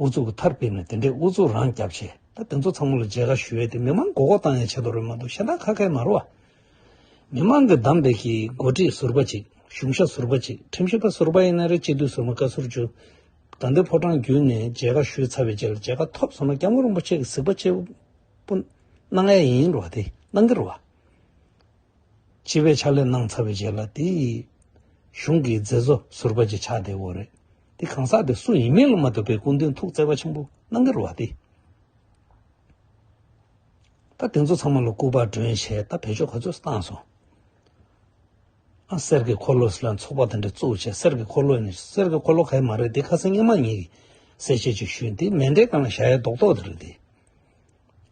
ཨུ་ཚུགས་ཀྱི་མཐར་སྤེལ་ནས་དེ་འདྲའི་ཨུ་ཚུགས་རང་རྐྱ་བྱས་ད་དེ་ཚོ་ཚང་མ་ལ་མཇལ་ཁ་ཞུ་འོས་ཏེ་མི་མང་མགོ་སྐོར་བཏང་ཡང་བྱེད་དོ་རེད་མ་གཏོགས་ཤ་ཏག་ཁ་ཁལ་མ་རུ་བ། མི་མང་གི་གདམས་པའི་གི་འགོ་ཁྲིད་ཟུར་པ་ཅིག་གཞུང་ཞབས་ཟུར་པ་ཅིག་ཁྲིམས་ཞིབ་པ་ཟུར་པ་ཡིན་ན་རེད་སྤྱི་འཐུས་ཟུར་མ་བཀའ་ཟུར་ཇུ་དགའ་འདི་ཕོ་བྲང་བརྒྱུད་ནས་མཇལ་ཁ་ཞུས་ཚར་བའི་རྗེས་ལ་མཇལ་ཁ་ཐོབ་སོང་ན་སྐྱབས་མགོན་རིན་པོ་ཆེ་གི་གཟིགས་པ་གཅེར་བུ་གནང་ཡས་ཡིན་རུ་བ་དེ་གནང་གི་རུ་བ། སྤྱི་པའི་ཕྱག་ལས་གནང་ཚར་བའི་རྗེས་ལ་དེ་ཡི་གཞུང་གི་མཛད་གཙོ་ཟུར་པ་ཅིག་ཆགས་བསྡད་འོ་རེད། དེ་གང་ཟག་དེ་སུ་ཡིན་མིན་ལ་མ་ལྟོས་པའི་སྐུ་མདུན་ཐུགས་བརྩེ་བ་ཆེན་པོ་གནང་གི་རུ་བ་སྟེ། ད་དེ་ཚོ་ཚང་མ་ལ་སྐུ་པར་སྒྲོན་བྱས་ད་བེད་སྤྱོད་ག་ཚོད་བཏང་སོང། ཨ་གསེར་གྱི་འཁོར་ལོས་ལ་ཚོགས་པ་དེ་འདྲ་བཙུགས་བྱས་གསེར་གྱི་འཁོར་ལོ་ནི་གསེར་གྱི་འཁོར་ལོ་ག་ཡི་མ་རེད་དེ་ཁ་སང་སྙན་མ་ཉིད་ཀྱིས་གསལ་བཤད་ཅིག་ཞུས་འདི་མེ་འདྲའི་སྒང་ལ་བཞག་ཡ་རྡོག་རྡོག་དེ་རེད་དེ།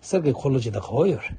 གསེར་གྱི་འཁོར་ལོ་ཅིག་ད་ག་བ་ཡོད་རེད།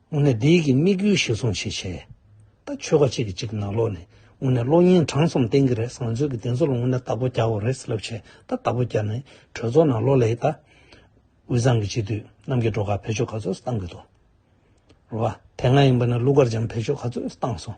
དངོས་གནས་འདི་གི་དམིགས་ཡུལ་གཞིར་བཟུང་བྱེད་ཆེད། ད་ཆོལ་ཁ་གཅིག་གི་གཅིག་ནང་ལོགས་ནས་དངོས་གནས་གློག་བརྙན་གྲངས་གསུམ་བསྟན་གྱི་རེད་བཟང་ཚོད་ཀྱི་དེ་ཚོ་ལ་དངོས་གནས་རྟ་ཕོ་རྒྱག་འོ་རེད་ཟེར་ལབ་བྱས་ད་རྟ་ཕོ་རྒྱག་ནས་གྲོས་ཚོགས་ནང་ལོགས་ལས་ད། དབུས་གཙང་གི་སྤྱི་འཐུས་རྣམ་གྱི་འགྲོ་ཁག་བེད་སྤྱོད་ག་ཚོད་སུ་བཏང་གི་འདུག་རོ། དེ་སྔ་ཡིན་པ་ན་ཀླུ་མཁར་བྱམས་བེད་སྤྱོད་ག་ཚོད་སུ་བཏང་སོང།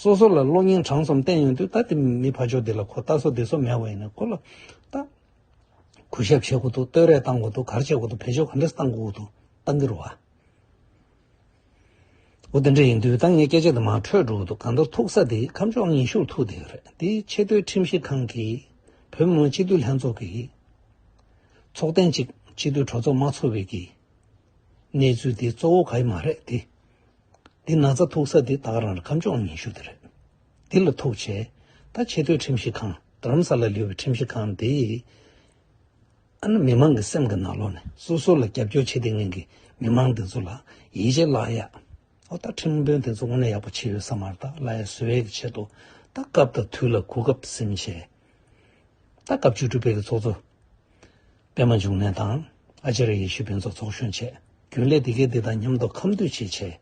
སོ་སོ་ལ་གློག་བརྙན་གྲངས་ཙམ་བསྟན་ཡོང་དུས་ད་དེ་མི་ཕ་ཆོག་འདི་ལ་གོ་ལྟ་སོགས་དེ་ཚོ་མེད་བ་ཡིན་ནའི་གོ་ལ་ལྟ། གུས་ཞབས་བྱེད་དགོས་འདུག་བསྟོད་རས་བཏང་དགོས་འདུག་གར་བྱེད་དགོས་འདུག་བེད་སྤྱོད་ག་འདྲས་བཏང་དགོས་འདུག་ལྟ་འདི་རུ་བ། འོ་དེ་འདྲས་ཡིན་དུས་ད་ངའི་སྐད་ཆ་དེ་མར་འཕྲོས་འགྲོ་གི་འདུག་གང་ལྟར་ཐུག་ས་དེ་ཁམས་ཕྱོགས་ངན་ཤུགས་ཐུག་དེ་རེད་དེ་ཆེས་མཐོའི་ཁྲིམས་ཞིབ་ཁང་གིས་བོད་མི་མང་སྤྱི་འཐུས་ལྷན་ཚོགས་ཀྱི་ཚོགས་ཐེངས་གཅིག་སྤྱི་འཐུས་གྲོས་ཚོགས་མ་ཚོགས་བའི་གི་གནས་ཚུལ་དེ་གཙོ་བོ་ག་ཡི་མ་རེད་དེ། འདི་ན་རྩ་ཐུག་ས་འདི་བདག་རང་ཁམས་ལྗོངས་ཉི་ཤུ་འདི་རེད། འདི་ལ་ཐུག་བྱས། ད་ཆེ་བསྟོད་ཁྲིམས་ཞིབ་ཁང་རྡ་རམ་ས་ལ་ལུས་པའི་ཁྲིམས་ཞིབ་ཁང་འདི། ཨ་ན་མི་མང་གི་སེམས་ཀྱི་ན་ལོག་ནས་སོ་སོ་ལ་རྒྱབ་སྐྱོར་བྱེད་དེ་ངན་གི་མི་མང་དེ་ཚོ་ལ་ཡིད་ཆེས་བརླག་ཡ། ཨོ་ད་ཁྲིམས་དཔོན་དེ་ཚོ་དངོས་གནས་ཡག་པོ་བྱེད་ཡོད་ས་མ་རེད་ད་བླ་ཡ་བཟོ་ཡས་ཀྱི་ཆེད་དུ་ད་སྐབས་ད་དུས་ལ་གོ་སྐབས་སེམས་ཤེས། ད་སྐབས་བཅུ་དྲུག་པའི་གི་ཚོགས་གཙོ། པད་མ་འབྱུང་གནས་དང། ཨ་ཅེ་ར་ཡེ་ཤེས་ཕུན་ཚོགས་ཚོགས་གཞོན་བཅས། རྒྱུན་ལས་དེ་གས་དེ་དང་མཉམ་དུ་ཁམས་འདུས་བྱས་བྱས།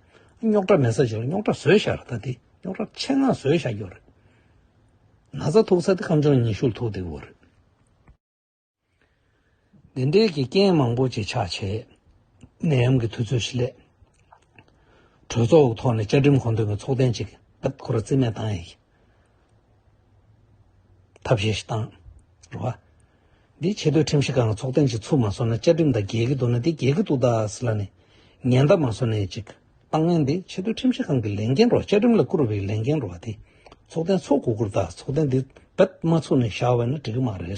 རྙོག་དྲ་མེད་ས་བྱས་ལ་རྙོག་དྲ་བཟོས་བཞག་ར་ད་དེ་རྙོག་དྲ་ཆེད་མངགས་བཟོས་བཞག་རྒྱུ་རེད། ན་ཚ་ཐུག་ས་དེ་ཁམས་ཆུང་ཉི་ཤུར་ཐུག་བསྡད་བོ་རེད། འདི་འདྲའི་གི་རྐྱེན་མང་པོ་ཅིག་ཆགས་བྱས། ནད་ཡམས་ཀྱི་དུས་ཚོད་ཞིག་སླེབས། གྲོས་ཚོགས་འོག་ཐོག་ནས་བཅའ་ཁྲིམས་མཁོ་འདོན་པའི་ཚོགས་ཐེངས་གཅིག་བརྒྱབ་ཁོ་ར་རྩིས་མེད་བཏང་ཡ་ཡིན། ཐབས་ཤེས་ཤིག་དང། རེད་བ། འདིས་ཆེད་དོའི་ཁྲིམས་ཤིག་གང་ལ་ཚོགས་ཐེངས་ཅིག་ཚུགས་མ་སོང་ན་བཅའ་ཁྲིམས་དང་འགལ་གྱི་འདུག་ན་དེ་འགལ་གྱི་འདུག་ད་ཟེར་ལ་ནི། ཉན་ད་མ་སོང་ནས་ཅིག། ཏང་ཡོན་འདི་ཆེད་དོའི་ཁྲིམས་ཤིག་གང་གི་ལས་འགན་རོགས་བཅའ་ཁྲིམས་ལ་བཀུར་བའི་ལས་འགན་རོགས་དེ། ཚོགས་ཐེངས་ཚོགས་དགོས་ཁུར་ད་ཚོགས་ཐེངས་འདི་རྦད་མ་ཚུགས་ནས་བཞག་བས་ན་འགྲིག་གི་མ་རེད།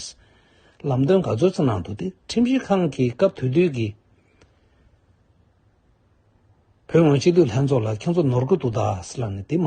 ལམ་སྟོན་ག་ཚོད་ཚོད་གནང་འདུག་དེ་ཁྲིམས་ཤིག་གང་གི་སྐབས་དུས་དུས་ཀྱི། བོད་དབང་སྤྱི་འཐུས་ལྷན་ཚོགས་ལ་ཁྱོད་ཚོ་ནོར་གྱི་འདུག་ད་ཟེར་ལ་ནི་དེ་མ།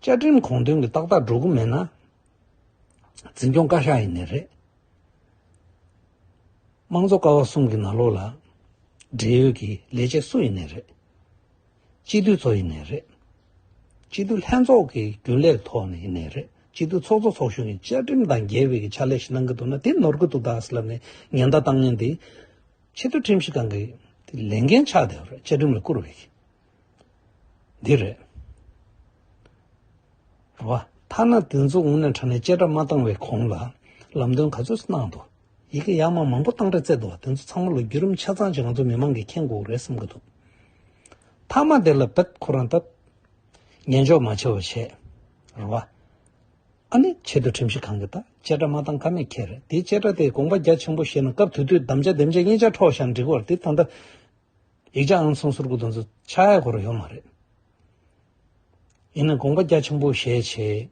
བཅའ་ཁྲིམས་གོང་དོན་གྱི་ཏག་ཏག་འགྲོ་གི་མེད་ན། འཛིན་སྐྱོང་བཀའ་ཤག་ཡིན་ནི་རེད། དམངས་གཙོ་ཀ་བ་གསུམ་གྱི་ནག་ལོག་ལ། འབྲེལ་ཡོད་ཀྱི་ལས་བྱེད་སུ་ཡིན་ནི་རེད། སྤྱི་འཐུས་ཚོ་ཡིན་ནི་རེད། སྤྱི་འཐུས་ལྷན་ཚོགས་ཀྱི་རྒྱུན་ལས་ཐོག་ནས་ཡིན་ནི་རེད། སྤྱི་འཐུས་ཚོགས་གཙོ་ཚོགས་གཞོན་གྱིས་བཅའ་ཁྲིམས་དང་འགལ་བའི་ཕྱག་ལས་ཤིག་གནང་གི་འདུག་ན་དེ་ནོར་གི་འདུག་དྭགས་ལ་ནི་ཉེན་བརྡ་བཏང་ཉེན་དེ། ཆེས་མཐོའི་ཁྲིམས་ཞིབ་ཁང་གི་ལས་འགན་ཆགས་བསྡད་པ་རེད་བཅའ་ཁྲིམས་ལ་བསྐུར་བའི། འདི་རེད། རེད་བ། ཐ་ན་དེ་ཚོ་ངོ་ནས་དྲ་ནས་བཅད་ཁྲ་མ་བཏང་བའི་གོང་ལ་ལམ་སྟོན་ག་ཚོད་གནང་འདུག་ཡི་གེ་ཡག་མ་མང་པོ་བཏང་ཁྲ་བརྩད་འདུག་བ་དེ་ཚོ་ཚང་མ་ལ་བརྒྱུད་རིམ་ཆ་ཚང་ཅིག་ང་ཚོ་མི་མང་གིས་མཁྱེན་དགོས་རེད་བསམ་གི་འདུག་མཐའ་མ་དེ་ལ་བེད་ཁོ་རང་ལྟ། ཉན་འཇོག་མ་བྱེད་བ་བྱས། རེད་བ། ཨ་ནི་ཆེད་དུ་ཁྲིམས་གཞི་གང་གི་ལྟ་བཅད་ཁྲ་མ་བཏང་ཁ་མེད་ཁྱེད་རེད་དེ་བཅད་ཁྲ་དེ་དགོངས་པ་རྒྱ་ཆེན་པོ་བཞེས་ན་སྐབས་དུས་དུས་བདམ་བྱ་བདེམ་བྱ་གཉིས་ཆ་འཕྲོག་བཞག་འགྲིག་བར་དེ་ད་ལྟ་ཡིག་ཆ་ཨང་གསུམ་ཟུར་དགུ་དང་ཚོ་ཆ་ཡ་གོ་རུ་ཡོད་མ་རེད། ཡིན་ན་དགོངས་པ་རྒྱ་ཆེན་པོ་བཞེས་བྱས།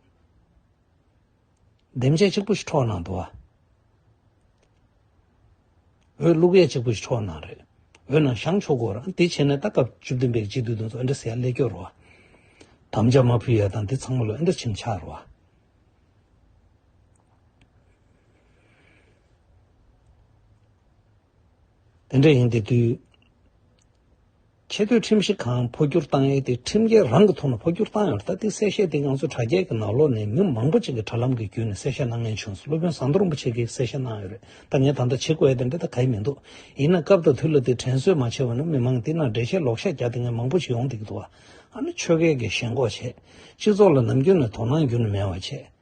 འདེམས་བྱེད་གཅིག་པུ་ཞིག་འཕྲོག་གནང་འདུག་བ། འོས་བླུག་ཡས་གཅིག་པུ་ཞིག་འཕྲོག་གནང་རེད། འོས་ནང་བཞང་ཆོག་གོ་རང་དེ་བྱས་ནས་ད་སྐབས་བཅུ་བདུན་པའི་སྤྱི་འཐུས་དང་ཚོ་ཨེ་འདྲ་ཟེར་ཡ་ལས་སྐྱོ་རུ་བ། དམ་བཅའ་མ་ཕུལ་ཡ་དང་དེ་ཚང་མ་ལོ་ཨེ་འདྲ་ཕྱིན་ཆགས་རུ་བ། དེ་འདྲ་ཡིན་དེ་དུས་ཆེ་བསྟོད་ཁྲིམས་གཞི་གང་འཕོ་འགྱུར་བཏང་ཡས་དེ་ཁྲིམས་འགལ་རང་གི་ཐོག་ནས་འཕོ་འགྱུར་བཏང་ཡོད་ད་དེ་གསལ་བཤད་དེ་ང་ཚོ་དྲ་རྒྱའི་གི་ནག་ལོག་ནས་མི་མང་པོ་ཅིག་གི་དྲ་ལམ་གི་བརྒྱུད་ནས་གསལ་བཤད་གནང་ངན་བྱུང་སོང་སློབ་དཔོན་ཟམ་གདོང་རིན་པོ་ཆེ་གི་གསལ་བཤད་གནང་ཡོད་རེད་ད་ངས་ད་ལྟ་བྱེད་དགོས་ཡས་དེ་འདྲ་ད་ག་ཡི་མི་འདུག་ཡིན་ན་སྐབས་དང་དུས་ལ་དེ་དྲན་གསོས་མ་བྱས་བ་ན་མི་མང་དེ་ནང་འགྲེལ་བཤད་ལོག་ཤ་རྒྱག་དེ་ངན་མང་པོ་ཞིག་ཡོང་དེ་གི་འདུག་ཨ་ནི་ཆོས་སྐད་གི་ཞེན་ཁོག་བྱས་སྤྱི་ཚོགས་ལ་ནམ་རྒྱུན་ནས་དོ་སྣང་རྒྱུན་ནས་མེད་བ་བྱས།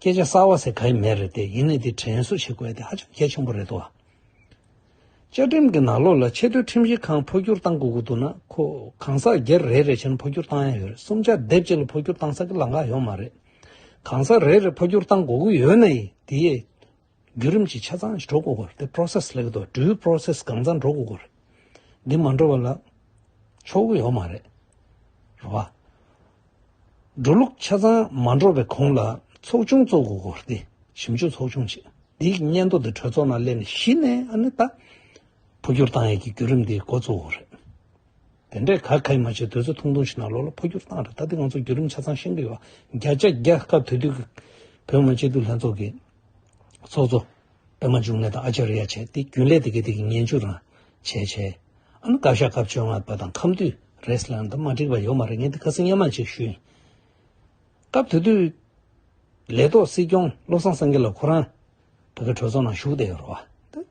སྐད་ཆ་གསར་བ་ཟེར་ག་ཡི་མེད་རེད་དེ་ཡིན་ནའི་དེ་དྲན་གསོ་བྱེད་དགོས་དེ་ཧ་ཅང་གལ་ཆེན་པོ་རེད་དོ། བཅའ་ཁྲིམས་ཀྱི་ནང་ལོགས་ལ་ཆེས་མཐོའི་ཁྲིམས་ཞིབ་ཁང་འཕོ་འགྱུར་གཏང་དགོས་ཀྱི་འདུག་ན་ཁོ་གང་ཟག་སྒེར་རེ་རེ་བྱས་ན་འཕོ་འགྱུར་གཏང་ཡ་ཡོད་རེད་གསུམ་ཆ་སྡེབ་བྱས་ལ་འཕོ་འགྱུར་གཏང་ས་ཀྱི་ལག་འགག་ཡོད་མ་རེད། གང་ཟག་རེ་རེ་འཕོ་འགྱུར་གཏང་དགོས་ཀྱི་ཡོད་ནའི་དེའི་བརྒྱུད་རིམ་གྱི་ཆ་ཚང་ཞིག་འགྲོ་དགོས་སྐོར་དེ process ལེགས་འགྲོ་འགྲུལ process གང་མཚམས་འགྲོ་དགོས་སྐོར། འདི་མ་འགྲོ་བ་ལ་ཆོག་གི་ཡོད་མ་རེད། རེད་བ། འགྲོ་ལུགས་ཆ་ཚང་མ་འགྲོ་བའི་གོང་ལ་ཚོགས་ཆུང་བཙུགས་དགོས་སྐོར་དེ་ཞིབ་འཇུག་ཚོགས་ཆུང་ཞིག་འདིའི་སྙན་ཐོ་དེ་གྲོས་ཚོགས་ནང་སླེབས་ནས་གཞི་ནས་ཨ་ནི་ད་འཕོ་འགྱུར་བཏང་ཡས་ཀྱི་བརྒྱུད་རིམ་དེའི་འགོ་བཙུགས་དགོས་རེད། དེ་འདྲས་ག་གཱའི་མ་བྱས་དུས་ཚོད་ཐུང་ཐུང་ཞིག་ནང་ལོགས་ལ་འཕོ་འགྱུར་བཏང་རེད་ད་དེ་ང་ཚོ་བརྒྱུད་རིམ་ཆ་ཚང་ཤེས་ཀྱི་ཡོད་བ་བརྒྱ་ཆ་བརྒྱ་སྐབས་དེ་དུས་ཀྱི་བོད་མ་བྱས་དུས་ལྷན་ཚོགས་ཀྱི་ཚོགས་གཙོ་པད་མ་འབྱུང་གནས་དང་ཨ་ཅཱ་རི་ཡ་བྱས་ཏེ་རྒྱུན་ལས་དེ་གའི་དེ་གའི་ངན་བྱུས་རང་བྱས་བྱས། ཨ་ནི་བཀའ་ཤག་སྐབས་བཅོ་ལྔ་པ་དང་ཁམས་དུས་རེས་ལ་འདི་མ་འགྲིག་པ་ཡོད་མ་རེད་ངས་འདི་ཁ་སེང་སྙན་མ་གཅིག་ཞུས་ཡིན། སྐབས་དེ་དུས་ལས་ཐོག་སྲིད་སྐྱོང་བློ་བཟང་སེང་གེ་ལ་ཁོ་རང་བོད་པའི་གྲོས་ཚོགས་ནང་ཞུགས་བསྡད་ཡོད་རེད་བ།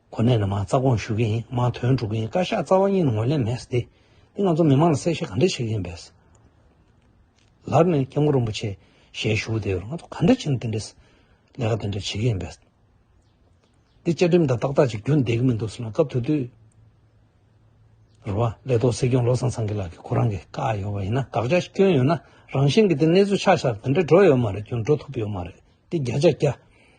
གོ་གནས་ནི་མང་རྩ་དགོངས་ཞུ་གི་ཡིན་མང་དོན་སྒྲུབ་གི་ཡིན་བཀའ་ཤག་རྩ་བ་གཉིས་ནི་ངོས་ལེན་མེད་ཟེར་ཏེ་ང་ཚོ་མི་མང་ལ་གསལ་བཤད་ག་འདྲ་བྱེད་ཀྱི་ཡིན་པས། ལར་ནས་སྐྱབས་མགོན་རིན་པོ་ཆེ་ཞལ་བཞུགས་དེ་བས་ང་ཚོ་ག་འདྲ་བྱེད་ན་དེ་འདྲས་ལས་ཀ་དེ་འདྲ་བྱེད་ཀྱི་ཡིན་པས། འདི་བཅའ་ཁྲིམས་དང་ཏག་ཏག་ཅིག་བསྒྱུར་འདེད་ཀྱི་མི་འདུག་ཟེར་ན་སྐབས་དེ་དུས། རེ་བ་ལས་ཐོག་སྲིད་སྐྱོང་བློ་བཟང་སེང་གེ་ལགས་ཀྱིས་ཁོ་རང་གི་བཀའ་ཡོད་པ་ཡིན་ན་དགག་བྱ་སྐྱོན་ཡོད་ན་རང་བཞིན་གྱིས་དེ་གནས་ཚུལ་ཆགས་ཆགས་དེ་འདྲ་འགྲོ་ཡོད་མ་རེད་སྐྱོན་འགྲོ་ཐུབ་ཡོད་མ་རེད་འདི་བརྒྱ་ཆ་བརྒྱ།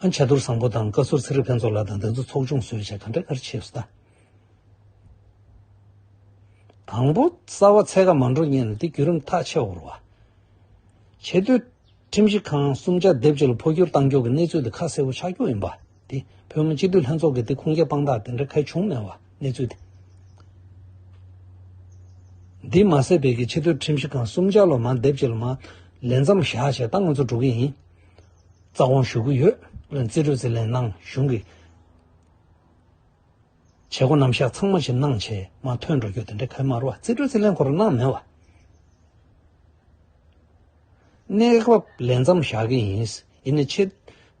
ཨ་མཆོད་རྡོར་བཟང་པོ་དང་བཀའ་ཟུར་ཚེ་རིང་ཕན་ཚོགས་ལགས་དང་བདག་འཛིན་ཚོགས་ཆུང་གསོལ་བྱ་ག་འདྲ་ཨར་ཆེའུ་སྟ། དང་པོ། རྩ་བ་ཚད་ཀ་མ་འགྲོ་གཉིས་ལ་དེ་བརྒྱུད་རིམ་ཐག་ཆད་བོར་བ། ཆེ་བསྟོད། ཁྲིམས་ཞིབ་ཁང་གསུམ་བཅའ་སྡེབ་བཅས་ལ་འཕོ་འགྱུར་བཏང་འགྱུར་གྱི་གནས་ཚུལ་དེ་ཁ་གསལ་བོ་ཆགས་རྒྱུ་ཡིན་པ་དེ་བོད་མི་སྤྱི་འཐུས་ལྷན་ཚོགས་ཀྱི་དེ་ཁུངས་སྐྱེལ་དཔང་རྟགས་དེ་འདྲ་གལ་བྱུང་མེད་བ་གནས་ཚུལ་དེ། འདི་མ་ཟད་བོད་ཀྱི་ཆེ་བསྟོད་ཁྲིམས་ཞིབ་ཁང་གསུམ་བཅའ་ལོ་མང་སྡེབ་བཅས་ལ་མ། ལས་མཚམས་བཞག་བྱས་ད་ང་ཚོ་འགྲོ་གི་ཡིན། རྩ་དགོངས་ཞུ་གི་ཡོད། རྩིས་སྤྲོད་རྩིས་ལེན་གནང་གཞུང་གི་བྱེད་སྒོ་རྣམ་གཞག་ཚང་མ་ཕྱི་ནང་ཕྱི་མ་ཐོན་འགྲོ་རྒྱུ་དེ་འདྲའི་ཁལ་དམར་བ་རྩིས་སྤྲོད་རྩིས་ལེན་སྐོར་གནང་མེད་བ། གནས་བབ་ལས་མཚམས་བཞག་གི་ཡིན། ཡིན་ནའི་ཕྱི་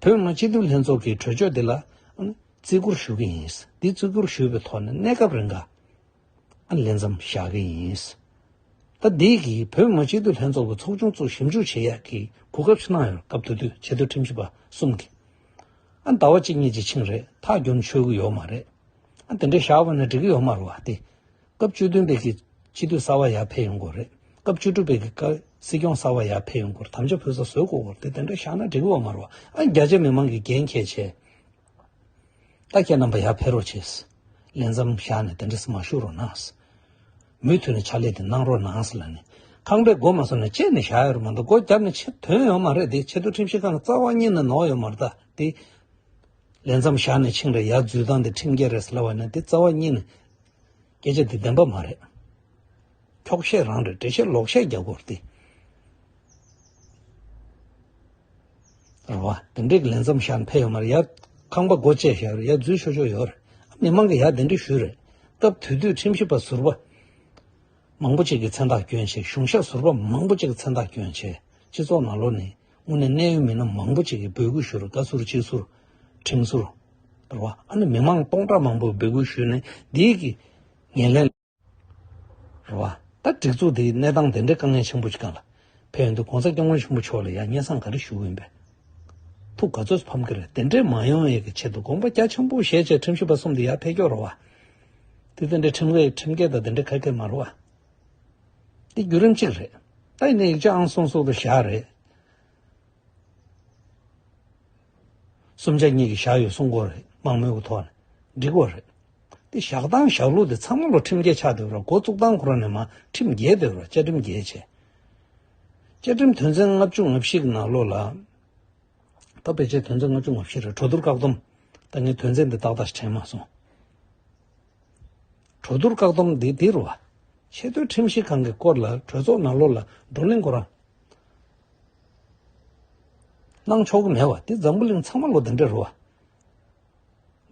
བོད་མི་སྤྱི་འཐུས་ལྷན་ཚོགས་ཀྱི་གྲོས་ཆོད་དེ་ལ། བརྩི་བཀུར་ཞུ་གི་ཡིན། འདི་བརྩི་བཀུར་ཞུས་པའི་ཐོག་ནས་གནས་སྐབས་རིང་ཁ། ལེན་ཙམ་བྱ་གི་ཡིན། ཟླ་འདིའི་གི་བོད་མི་སྤྱི་འཐུས་ལྷན་ཚོགས་ཀྱི་ཚོགས་ཆུང་གཙོས་ཞིབ་འཇུག་བྱེད་ཡག་གི་གོ་སྐབས་ཤིག་གནང་ཡོད་སྐབས་དུས་དུས་ཆེད་དུ་ཁྲིམས་ཞིབ་པ་གསུམ་གིས་ཟླ་བ་གཅིག་གཉིས་ཀྱི་ཆིངས་རེ་ཐག་རྒྱུན་མཆོད་གི་ཡོད་མ་རེད། དེ་འདྲའི་བྱ་བ་ནི་འགྲིག་གི་ཡོད་མ་རུ་བ་སྟེ། སྐབས་བཅུ་བདུན་པའི་གི་སྤྱི་འཐུས་གསར་བ་ཡར་ཕེབས་ཡོང་དགོས་རེད། སྐབས་བཅུ་དྲུག་པའི་གི་སྲིད་སྐྱོང་གསར་བ་ཡར་ཕེབས་ཡོང་དགོས་རེད་དམ་བཅའ་ཕུལ་ས་བཟོས་གོ་དགོས་རེད་དེ་འདྲ་བྱ་ན་འགྲིག་གི་ཡོད་མ་རུ་བ། རྒྱ་ཆེ་མི་མང་གི་འགན་ཁྱེད་ཆེ། ད་ཁྱེད་རྣམ་པ་ཡར་འཕེལ་རོགས་བྱས། ལས་མཚམས་བཞག་ནས་དེ་འདྲས་མ་བཞུགས་རོགས་གནང། མུས་མཐུད་ནས་ཕྱག་ལས་དེ་གནང་རོགས་གནང་ལ་ནི། ཁང་པའི་སྒོ་མ་སོགས་ནས་བཅད་ནས་བཞག་ཡོད་རེད་མ་གཏོགས་སྒོ་བརྒྱབ་ནས་ཕྱིར་དོན་ཡོང་མ་རེད་དེ་ཕྱི་དུ་ཁྲིམས་ཞིབ་ཁང་གི་རྩ་བ་གཉིས་ནས་ནོག་ཡོད་མ་རེད་ད་དེ། ལས་མཚམས་བཞག་ནས་ཆིངས་རེ་ཡར་འཛུལ་སྟངས་དེ་ཁྲིམས་འགལ་རེད་ཟེར་ལ་བ་ནི་དེ་རྩ་བ་གཉིས་ནས། སྐད་ཆ་འདི་བདེན་པ་མ་རེད། འཁྱོག་བཤད་རང་རེད་འབྲེལ་བཤད་ལོག་བཤད་རྒྱག་དགོས་རེད། རེད་བ། དེ་འདྲའི་ལས་མཚམས་བཞག་འཕེལ་ཡོད་མ་རེད་ཡ། ཁང་པ་སྒོ་བཅད་བཞག་ཡོད་རེད་ཡ་འཛུལ་ཤོག་ཤོག་ཡོད་རེད། མི་མང་གིས་ཡ་དེ་འདྲས་ཞུས་རེད། སྐབས་དུས་དུས་ཁྲིམས་ཞིབ་པ་ཟུར་པ། མང་པོ་གཅིག་གི་མཚན་རྟགས་སྐྱོན་ཆེད་གཞུང་ཞབས་ཟུར་པ་མང་པོ་གཅིག་གི་མཚན་རྟགས་སྐྱོན་ཆེད་སྤྱི་ཚོགས་ནང་ལོག་ནས། དངོས་གནས་གནད་ཡོད་མི་སྣ་མང་པོ་ཅིག་གིས་འབོད་སྐུལ་ཞུས་རུང་བཀའ་ཟུར་སྤྱི་ཟུར་ཁྲིམས་ཟུར་ཟེར་བ་ཨ་ནི་མི་མང་སྟོང་ཕྲག་མང་པོས་འབོད་སྐུལ་ཞུས་ནས་འདིའི་གི་ངེས་ལེན་ཟེར་བ་ད་སྒྲིག་འཛུགས་འདིའི་གནས་སྟངས་དེ་འདྲའི་དཀའ་ངལ་ཆེན་པོ་ཅིག་ག་ལ་ཕན་ཡོད་འདུག ྋགོང་ས་སྐྱབས་མགོན་ཆེན་པོ་མཆོག་ལ་ཡང་སྙན་གསང་ག་རེ་ཞུ་འོས་པའི་ཐུགས་ག་ཚོད་ཕམ་གི་རེད་དེ་འདྲས་མ་ཡོང་བའི་གི་ཆེད་དུ་དགོངས་པ་རྒྱ་ཆེན་པོ་བཞེས་བྱས་ཁྲིམས་ཞིབ་པ་གསུམ་དེ་ཡར་འཕེལ་སྐྱོད་རོགས་བ་དེ་དེ་འདྲའི་ཁྲིམས་འགལ་ཁྲིམས་འགལ་དང་དེ་འདྲའི་ཁ་སྐད་མ་རོགས་བ། འདི་བརྒྱུད་རིམ་གཅིག་རེད། ད་ཡིན་ན་ཡིག་ཆ་ཨང་སོ་སོ་དུ་བཞག་རེད། གསུམ་ཆ་གཉིས་ཀྱི་བཞག་ཡོད་གསུང་སྐོར་རེད་མང་མོས་ཀྱི་ཐོག་ནས་འབྲི་དགོས་རེད། འདི་བཞག་སྟངས་བཞག་ལུགས་དེ་ཚང་མ་ལོ་ཁྲིམས་བརྒྱད་ཆགས་འདོད་ར་འགོ་བཙུགས་སྟངས་ཁོ་ན་ནས་མ་ཁྲིམས་བརྒྱད་འདོད་ར་བཅའ་ཁྲིམས་བརྒྱད་བྱས། བཅའ་ཁྲིམས་དོན་ཚན་ལྔ་བཅུ་ང་བཞི་གི་ནང་ལོ་ལ། ད་བེད་སྤྱད་དོན་ཚན་ལྔ་བཅུ་ང་བཞི་རེད་གྲོ་བསྡུར་བཀག་སྡོམ། ད་ངས་དོན་ཚན་འདི་ཏག་ཏག་དྲན་མ་སོང། གྲོས་བསྡུར་བཀག་སྡོམ་འདི་དིར་བ། ཆེས་མཐོའི་ཁྲིམས་ཞིབ་ཁང་གི་སྐོར་ལ་གྲོས་ཚོགས་ནང་ལོགས་ལ་བགྲོ་གླེང་གོ་རང་གནང་ཆོག་གི་མེད་བ་དེ་འཛམ་བུ་གླིང་ཚང་མ་ལོ་འདི་འདྲའི་རུ་བ།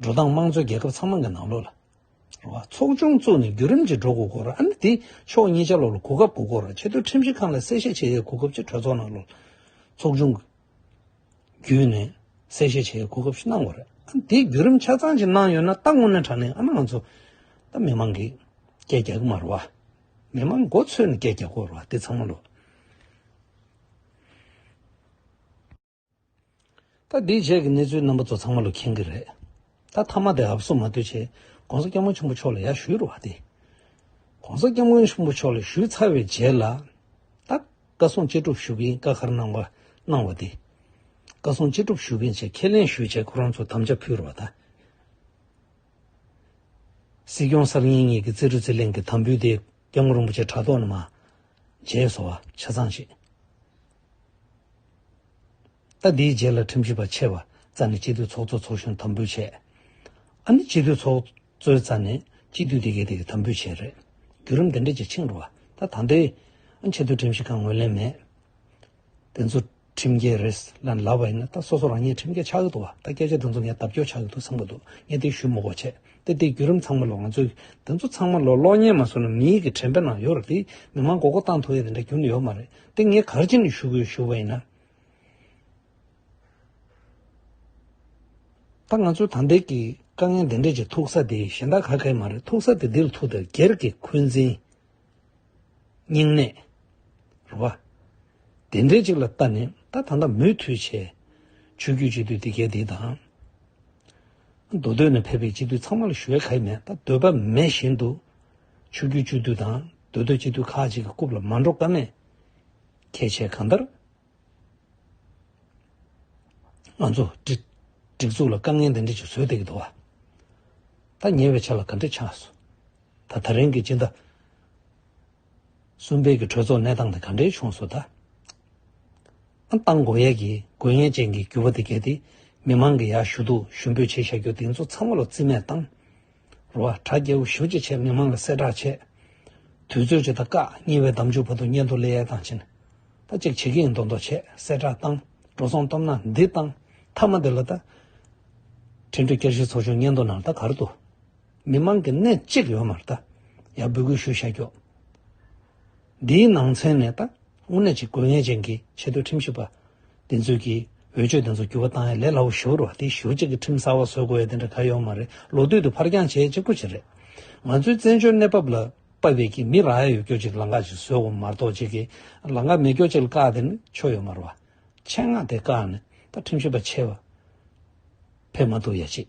འགྲོ་སྟངས་དམངས་གཙོའི་རྒྱལ་ཁབ་ཚང་མ་གི་ནང་ལོགས་ལ་རུ་བ་ཚོགས་ཆུང་བཙུགས་ནས་བརྒྱུད་རིམ་གྱིས་འགྲོ་དགོས་གོ་ར་ཨ་ནི་དེ་ཕྱོགས་གཉིས་ཆ་ལོགས་ལ་གོ་སྐབས་དགོས་གོ་ར་ཆེས་མཐོའི་ཁྲིམས་ཞིབ་ཁང་ལ་གསལ་བཤད་བྱེད་ཡའི་གོ་སྐབས་ཀྱི་གྲོས་ཚོགས་ནང་ལོགས་ལ་ཚོགས་ཆུང་གི། བརྒྱུད་ནས་གསལ་བཤད་བྱེད་གོ་སྐབས་ཤིག་གནང་བར། དེའི་བརྒྱུད་རིམ་ཆ་ཚང་ཞིག་གནང་ཡོད་ན་ད་སྔོན་ནས་དྲ་གནས་ཨ་ན་ང་ཚོ་ད་མི་མང་གིས་སྐད་རྒྱག་གི་མ་རོ་བ། མི་མང་མགོ་འཚོས་ནས་སྐད་རྒྱག་དགོས་རོ་བ་དེ་ཚང་མ་ལོས། ད་དེའི་རྗེས་ཀྱི་གནས་ཚུལ་རྣམ་པ་ཚོ་ཚང་མ་ལོས་མཁྱེན་གི་རེད། ད་ཐ་མ་དེ་ཨབ་སོ་མ་ལྟོས་བྱས ྋགོང་ས་སྐྱབས་མགོན་ཆེན་པོ་མཆོག་ལ་ཡར་ཞུས་རོགས་ཏེ། ྋགོང་ས་སྐྱབས་མགོན་ཆེན་པོ་མཆོག་ལ་ཞུས་ཚར་བའི་རྗེས་ལ། ད་བཀའ་སྲུང་གཅེས་སྒྲུབ་ཞུ་མཁན་བཀའ་མཁར་གནང་བ་གནང་བ་དེ། བཀའ་སྲུང་གཅེས་སྒྲུབ་ཞུ་མཁན་བཅས་ཁས་ལེན་ཞུས་བྱས་ཁོ་རང་ཚོ་དམ་བཅའ་ཕུལ་རོགས་ད། སྲིད་སྐྱོང་གསར་རྙིང་གཉིས་ཀྱི་རྩེ་རུ་རྩེ་གླེང་གི་དམ་འབུལ་དེ་སྐྱབས་མགོན་རིན་པོ་ཆེ་དྲ་ཐོག་ནས་མ། བྱས་སོ། ཆ་ཚང་བྱེད། ཟླ་འདིའི་རྗེས་ལ་ཁྲིམས་ཞིབ་པ་ཆེ་བ་རྩ་ནས་སྤྱི་འཐུས་ཚོགས་གཙོ་ཚོགས་གཞོན་དམ་འབུལ་བྱས། ཨ་ནི་སྤྱི་འཐུས་ཚོགས་གཙོའི་རྩ་ནས་སྤྱི་འཐུས་དེ་གའི་དེ་གའི་དམ་འབུལ་བྱས་རེད། བརྒྱུད་རིམ་དེ་འདྲས་ཀྱི་ཕྱིང་རུ་བ་ད་ད་འདི། ཨ་ཆེ་འདུག་ཁྲིམས་ཞིབ་ཁང་ངོས་ལེན་མེད། དེ་ཚོ་ཁྲིམས་རྒྱལ་རེད་ལན་ལབ་པ་ཡིན་ན་ད་སོ་སོ་རང་ཉིད་ཁྲིམས་རྒྱལ་ཆགས་ཀྱི་འདུག་བ་ད་སྐད་ཆ་དེ་ཚོ་ངས་ལྡབ་འགྱོག་ཆགས་ཀྱི་འདུག་ཚང་མ་འདུག་ངས་དེ་ཞུ་མོ་གོ་བྱས་ཏེ་དེ་བརྒྱུད་རིམ་ཚང་མ་ལོ་ང་ཚོས་དེ་ཚོ་ཚང་མ་ལོ་གློག་བརྙན་མ་བཟོ་ན་མི་ཡི་གི་དྲན་པའི་ནང་ཡོད་རེད་དེ་མི་མང་མགོ་སྐོར་བཏང་ཐུབ་ཡས་དེ་འདྲ་རྒྱུན་ཡོད་མ་རེད་དེ་ངས་གར་ཅི་ནས་ཞུ་དགོས་ཞུ་བ་ཡིན་ན། ད་ང་ཚོའི་དམ་འབེལ་གྱི་དཀའ་ངལ་འདི་འདྲས་ཀྱི་ཐུག་ས་དེ་གཞན་དག་ག་གེ་མ་རེད་ཐུག་ས་དེ་འདིར་ཐུག་སྟེ་སྒེར་གྱི་འཁོན་འཛིན། སྙིང་ནད། རེད་བ། དེ་འདྲས་ཅིག་ལ་ལྟ་ནས་ད་ད་ལྟ་མུས་མཐུད་བྱས། ཆོས་རྒྱུད་སྤྱི་འཐུས་དེ་གས་དེ་དང། མདོ་སྟོད་ནས་ཕེབས་པའི་སྤྱི་འཐུས་ཚང་མ་ལ་ཞུ་བའི་ག་གེ་མེད་ད་འདོད་པ་མེད་བཞིན་དུ། ཆོས་རྒྱུད་སྤྱི་འཐུས་དང་མདོ་སྟོད་སྤྱི་འཐུས་ཁག་ཅིག་གི་རྐུབ་ལ་མ་འགྲོ་ཀ་མེད། ཁྱེད་ཆས་གང་ལྟར། ང་ཚོ། སྒྲིག་འཛུགས་ལ་དཀའ་ངལ་འདི་འདྲ་ཅིག་བཟོས་བསྡད་ཀྱི་འདུག་ཨ། ད་ཉེ་བའི་ཆ་ལ་ག་འདྲས་ཆགས་སོང། ད་ད་རིང་གི་སྤྱི་ཟླ་གསུམ་པའི་གི་གྲོས་ཚོགས་གནས་སྟངས་དེ་ག་འདྲས་བྱུང་སོང་ད། ཨ་ཏང་མགོ་ཡལ་གྱི་མགོ་ཡན་ཅན་གྱི་རྒྱུ་བ་དེ་བརྒལ་ཏེ་མི་མང་གི་ཡར་ཞུ་དུག་ཞུ་འབོད་བྱེད་བཞག་རྒྱུ་དེ་ཚོ་ཚང་མ་ལ་རྩིས་མེད་བཏང། རུ་བ་གྲྭ་རྒྱལ་བོ་ཞུ་ཅེ་ཆེ་མི་མང་ལ་གསལ་བསྒྲགས་བྱས། དུས་ཚོད་ཅིག་དང་སྐག་གཉིས་པའི་གདམས་ཆུང་བར་དུ་སྙན་ཐོ་ལེ་ཡལ་དང་བྱིན། ད་གཅིག་བྱེད་ཀྱི་ཡིན་མདོག་མདོག་བྱས་གསལ་བསྒྲགས་བཏང་འགྲོ་སོང་སྟོབས་ན་འདི་བཏང་མཐའ་མ་འདི་ལ་ད། ཁྲིན་ཀྲུའུ་བསྐྱར་ཞིག་ཚོགས་ཆུང་སྙན་ཐོ་ནང་ད་གར་དུ། མི་མང་གི་གནས་གཅིག་ཡོད་མར་ད། ཡར་འབོད་སྐུལ་ཞུ་བྱ་རྒྱུ། འདིའི་ནང་ཚན་ནས་ད་དངོས་གནས་ཀྱི་དགོས་ངེས་ཅན་གྱི་ཆེས་མཐོའི་ཁྲིམས་ཞིབ་པ་དེ་ཚོས་ཀྱིས་འོས་ཆོས་དེ་ཚོ་འགྱུར་བ་བཏང་ཡ་ལས་སླ་བོ་ཞུ་རུ་བ་དེ་ཞུ་གཅིག་གི་ཁྲིམས་གསར་བ་བཟོ་དགོས་ཡ་དེ་འདྲ་ག་ཡོད་མ་རེད་ལོ་སྟོད་དུ་ཕར་འགྱངས་བྱས་གཅིག་པོ་གཅིག་རེད། ང་ཚོའི་བཙན་བྱོལ་གནས་བབ་ལ་དཔའ་བས་ཀྱིས་མི་རག་ཡ་ཡོད་སྐྱོ་གཅིག་ལ་འགག་ཅིག་བཟོས་འོང་མ་གཏོགས་གཅིག་གིས་ལ་འགག་མེད་སྐྱོ་གཅིག་ལ་བཀག་དེ་ནི་ཆོ་ཡོད་མ་རུ་བ། ཆེད་མངགས་དེ་བཀག་ནི་ད་ཁྲིམས་ཞིབ་པ་ཆེ་བ་ཕེབས་མ་འདུག་ཡ་གཅིག།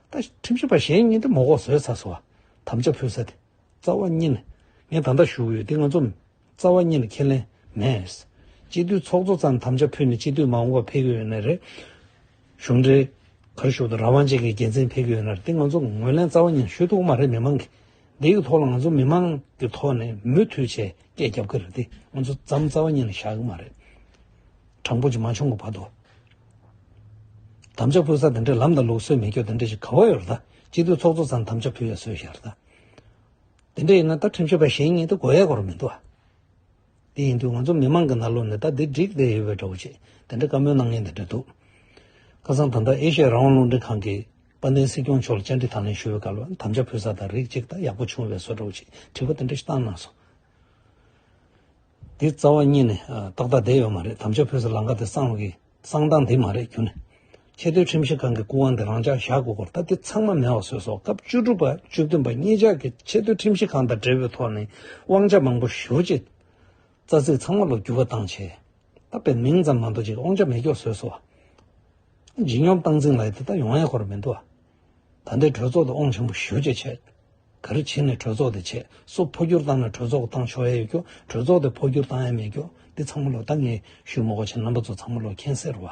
ད་ཁྲིམས་ཞིབ་པ་གཞན་གཉིས་འདི་མོ་ལྐོག་བཟོས་ཚར་སོང་བ་དམ་བཅའ་ཕུལ་ས་དེ་རྩ་བ་གཉིས་ནས་ངས་ད་ལྟ་བཞུགས་ཡོད་འདི་ང་ཚོ་རྩ་བ་གཉིས་ནས་ཁས་ལེན་མེད། སྤྱི་འཐུས་ཚོགས་གཙོ་ཙམ་དམ་བཅའ་ཕུལ་ནས་སྤྱི་འཐུས་མ་འོངས་པ་ཕེབས་ཀྱི་ཡོད་ན་རེད། གཞུང་འབྲེལ་གར་བཞུགས་དང་རང་དབང་ཅན་གྱི་རྒྱལ་མཚན་ཕེབས་ཀྱི་ཡོད་ན་རེད་འདི་ང་ཚོ་ངོས་ལེན་རྩ་བ་གཉིས་ནས་ཞུ་ཐུབ་ཀྱི་མ་རེད་མི་མང་གིས་འདི་གི་ཐོག་ལ་ང་ཚོ་མི་མང་གི་ཐོག་ནས་མུ་མཐུད་ཆེད་སྐད་རྒྱབ་ཀྱི་རེད་འདི་ང་ཚོ་ཙམ་རྩ་བ་གཉིས་ནས་བཞག་གི་མ་རེད། དྲང་པོ་ཅིག་མ་བྱུང་གི་བར་དུ། དམ་བཅའ་ཕུལ་ས་དེ་འདྲའི་ལམ་དང་ལུགས་སྲོལ་མི་སྐྱོ་དེ་འདྲ་ཞིག་ག་བ་ཡོད་རེད་ད་སྤྱི་འཐུས་ཚོགས་གཙོ་ཚང་དམ་བཅའ་ཕུལ་བའི་སྲོལ་ཞིག་རེད་ད། དེ་འདྲ་ཡིན་ན་ད་ཁྲིམས་ཞིབ་པ་གཞན་གཉིས་ད་གོ་ཡའི་སྐོར་མི་འདུག་ཨ། དེ་ཡིན་དུས་ང་ཚོ་མི་མང་གི་ནང་ལོག་ནས་ད་འདི་འགྲིག་བསྡད་ཡོད་པའི་འདྲ་བོ་ཅིག་དེ་འདྲ་བཀའ་མོལ་གནང་མཁན་དེ་འདྲ་འདུག་ཁ་སང་ད་ལྟ་ཨེ་ཤི་ཡའི་རང་དབང་རླུང་འཕྲིན་ཁང་གིས་དཔལ་ལྡན་སྲིད་སྐྱོང་མཆོག་ལ་བཅར་འདྲི་དང་ལེན་ཞུ་བའི་སྐབས་ལ་དམ་བཅའ་ཕུལ་ས་དང་རིགས་གཅིག་ད་ཡག་པོ་བྱུང་བའི་སྲོལ་འདྲ་བོ་ཅིག་དྲི་བ་དེ་འདྲ་ཞིག་བཏང་གནང་སོང། དེ་རྩ་བ་རྙེད་ནས་ཏག་ཏག་བསྡད་ཡོད་མ་རེད་དམ་ཆོས་བོད་སུ་ལང་ག་དེ་གསང་གི་གསང་སྟངས་དེ་མ་རེད་གྱུར་ནས། ཆེ་བསྟོད་ཁྲིམས་ཞིབ་ཁང་གི་སྐུ་དབང་དེ་རང་འཇགས་བཞག་དགོས་སྐོར་སྟབས་བདེ་ཚང་མ་མེད་བ་བཟོས་སོ་སྐབས་བཅུ་དྲུག་པ་བཅུ་བདུན་པ་གཉིས་ཆགས་ཀྱི་ཆེ་བསྟོད་ཁྲིམས་ཞིབ་ཁང་དང་འབྲེལ་བའི་ཐོག་ནས་དབང་ཆ་མང་པོ་ཞུ་རྗེས། རྩ་ཚིག་ཚང་མ་ལོ་རྒྱུས་བ་དང་ཆེ་ད་པའི་མིང་ཙམ་མ་འདུག་ཅིག་དབང་ཆ་མེད་སྐྱོགས་བཟོས་སོ། ཇི་སྙོམས་སྟངས་འཛིན་ལ་ཡི་དེ་ད་ཡོང་ཡས་སྐོར་མི་འདུག་ཨ། ད་འདས་གྲོས་ཚོགས་དུ་དབང་ཆེན་པོ་ཞུ་རྗེས་བྱས། ག་རེ་བྱས་ནས་གྲོས་ཚོགས་དེ་ཆེད་གསོ་འཕོ་འགྱུར་བཏང་ན་གྲོས་ཚོགས་བཏང་ཆོག་ཡ་ཡོད་རྒྱུ་གྲོས་ཚོགས་དེ་འཕོ་འགྱུར་བཏང་ཡ་མེད་རྒྱུ་འདི་ཚང་མ་ལོ་ད་ངས་ཞུས་མོ་གོ་ཆེ་རྣམ་པ་ཚོ་ཚང་མ་ལོ་མཁྱེན་ཟེར་བ་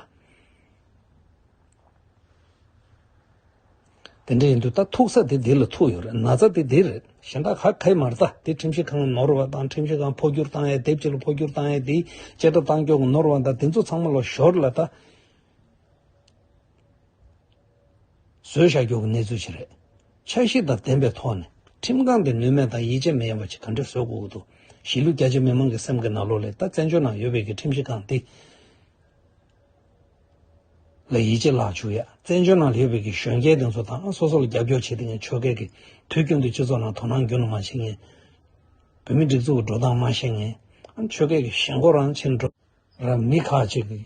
དེ་འདྲ་ཡིན་དུས་ད་ཐུག་ས་དེ་འདི་ལ་ཐུག་ཡོད་རེད་ན་ཚ་དེ་འདི་རེད་གཞན་དག་ག་གེ་མ་རྩ་དེ་ཁྲིམས་ཞིབ་ཁང་ནོར་བ་དང་ཁྲིམས་ཞིབ་ཁང་འཕོ་འགྱུར་བཏང་ཡ་དེབ་ཕྱི་ལ་འཕོ་འགྱུར་བཏང་ཡ་དེའི་བཅད་ཁྲ་བཏང་སྐྱོང་གི་ནོར་བ་དང་དེ་ཚོ་ཚང་མ་ལོ་ཞོར་ལ་ད། བཟོད་བྱ་རྒྱུ་གི་གནས་ཚུལ་ཞིག་རེད། འཆར་གཞི་དང་ལྡན་པའི་ཐོག་ནས་ཁྲིམས་ཁང་གིས་ནུས་མེད་དང་ཡིད་ཆེས་མི་ཡོང་བ་ཞིག་ག་འདྲས་བཟོ་དགོས་ཀྱི་འདུག་གཞིས་ལུས་རྒྱ་ཆེ་མི་མང་གི་སེམས་ཀྱི་ན་ལོ་ལས་ད་བཙན་བྱོལ་ནང་ཡོད་བོད་ཀྱི་ཁྲིམས་ཞིབ་ཁང་འདི་ལ་ཡིད་ཆེས་ལག་འཇུ་ཡ། བཙན་བྱོལ་ནང་ཡོད་བོད་ཀྱི་གཞོན་སྐྱེས་འདི་ཚོ་ད་སོ་སོ་ལ་རྒྱབ་སྐྱོར་བྱེད་དེ་ངས་ཆོལ་ཁའི་གི་དུས་རྒྱུན་དུ་སྤྱི་ཚོགས་ནང་དོ་སྣང་རྒྱུན་དུ་མ་བྱེད་ངས་བོད་མི་སྒྲིག་འཛུགས་ཀྱི་འགྲོ་སྟངས་མ་ཤེས་ངས་ཆོལ་ཁའི་གི་ཞེན་ཁོག་རང་ཕྱིར་འགྲོ། ར་མི་ཁག་ཅིག་གིས།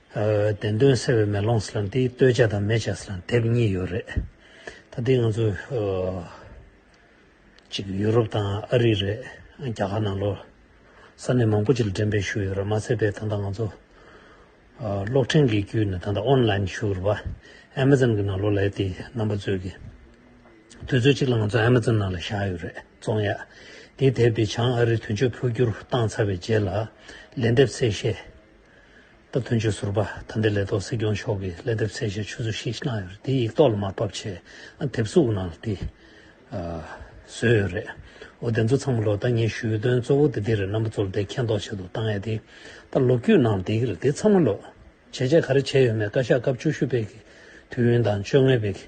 བདེན་དོན་གསལ་བའི་མེ་ལོང་སྲིད་ལ་འདི་སྟོད་བྱ་དང་མེ་བྱ་སྲིད་ལ་དེབ་གཉིས་ཡོད་རེད། ད་ལྟའི་ང་ཚོ་གཅིག་ཡུ་རོབ་དང་ཨ་རི་རེད་རྒྱ་གར་ནང་ལོ་ས་གནས་མང་པོ་ཅིག་ལ་འགྲེམས་སྤེལ་ཞུ་ཡོད་རེད་མ་ཚད་པའི་ད་ལྟ་ང་ཚོ་གློག་འཕྲིན་གྱི་བརྒྱུད་ནས་ད་ལྟ་ཨོན་ལཱིན་ཞུ་རུ་བ Amazon གྱི་ནང་ལོ་ལས་དེ་རྣམ་པ་རྩོད་གི་དུས་ཚོད་ཅིག་ལ་ང་ཚོ Amazon ནང་ལ་བཞག་ཡོད་རེད་བཙོང་ཡག་དེའི་དེབ་དེ་བྱང་ཨ་རི་དོན་གཅོད་འཕོ་འགྱུར་བཏང་ཚར་བའི་རྗེས་ལ་ལན་འདེབས་ཚེ་ཤེས། སྟབས་བསྟུན་བཅོས་ཟུར་པ་དམ་པའི་ལས་ཐོག་སྲིད་སྐྱོང་མཆོག་གིས་ལན་འདེབས་གསལ་བཤད་ཆུ་ཚོད་བཞི་གནང་ཡོད་དེ་ཡིག་ཐོག་ལ་མར་ཕབ་ཆེད་ཨ་དེབ་གཟུགས་ནང་ལ་དེ་བཟོས་ཡོད་རེད། འོ་དེ་ཚོ་ཚང་མ་ལོ་ད་ངས་ཞུས་དོན་གཙོ་བོ་དེ་འདི་རེད་རྣམ་པ་ཚོ་ལ་དེ་མཁྱེན་རྟོགས་བྱེད་དུ་གཏང་ཡ་དེ་ལྟར་ལོ་རྒྱུས་ནང་ལ་དེ་གི་རེད་དེ་ཚང་མ་ལོ། བྱས་རྗེས་ག་རེ་བྱས་ཡོད་མེད་བཀའ་ཤག་སྐབས་བཅུ་བཞི་པའི་གི་དུས་ཡུན་དང་བཅོ་ལྔའི་པའི་གི་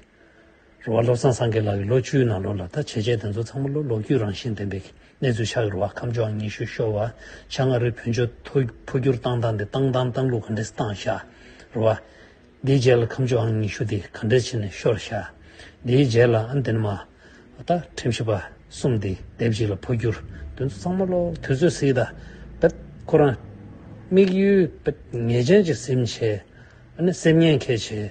རུ་བ་བློ་བཟང་སངས་རྒྱས་ལགས་ཀྱིས་ལོ་བཅུའི་ནང་ལོ་ལ་ལྟ་བྱེད་ཆས་དེ་ཚོ་ཚང་མ་ལོ་ལོག་རྒྱུས་རང་བཞིན་ལྡན་པའི་གནས་ཚུལ་ཆགས་ཡོད་རུ་བ་ཁམས་ཕྱོགས་ཉི་ཤུ་ཤོར་བ་ཆ་ང་རོའི་ཕུལ་འབྱོར་འཐོར་འཕོ་བསྒྱུར་བཏང་བཏང་སྟེ་བཏང་བཏང་བཏང་ལུགས་ག་འདྲེས་བཏང་བཞག་རུ་བ། དེའི་རྗེས་ལ་ཁམས་ཕྱོགས་ཨང་ཉི་ཤུ་དེ་ག་འདྲེས་ཕྱི་ནས་ཤོར་བཞག་དེའི་རྗེས་ལ་ཨང་དེ་ནས་མ་ད་ཁྲིམས་ཞིབ་པ་གསུམ་དེ་སྡེབ་གཅིག་ལ་འཕོ་བསྒྱུར་དེ་ཚོ་ཚང་མ་ལོ་དུས་ཚོད་སྲིད་ད་བེད་ཁོ་རང་དམིགས་ཡུལ་བེད་ངེས་ཅན་གྱི་སེམས་བྱེད་ཨ་ནི་སེམས་ཉེན་མཁས་བྱེད།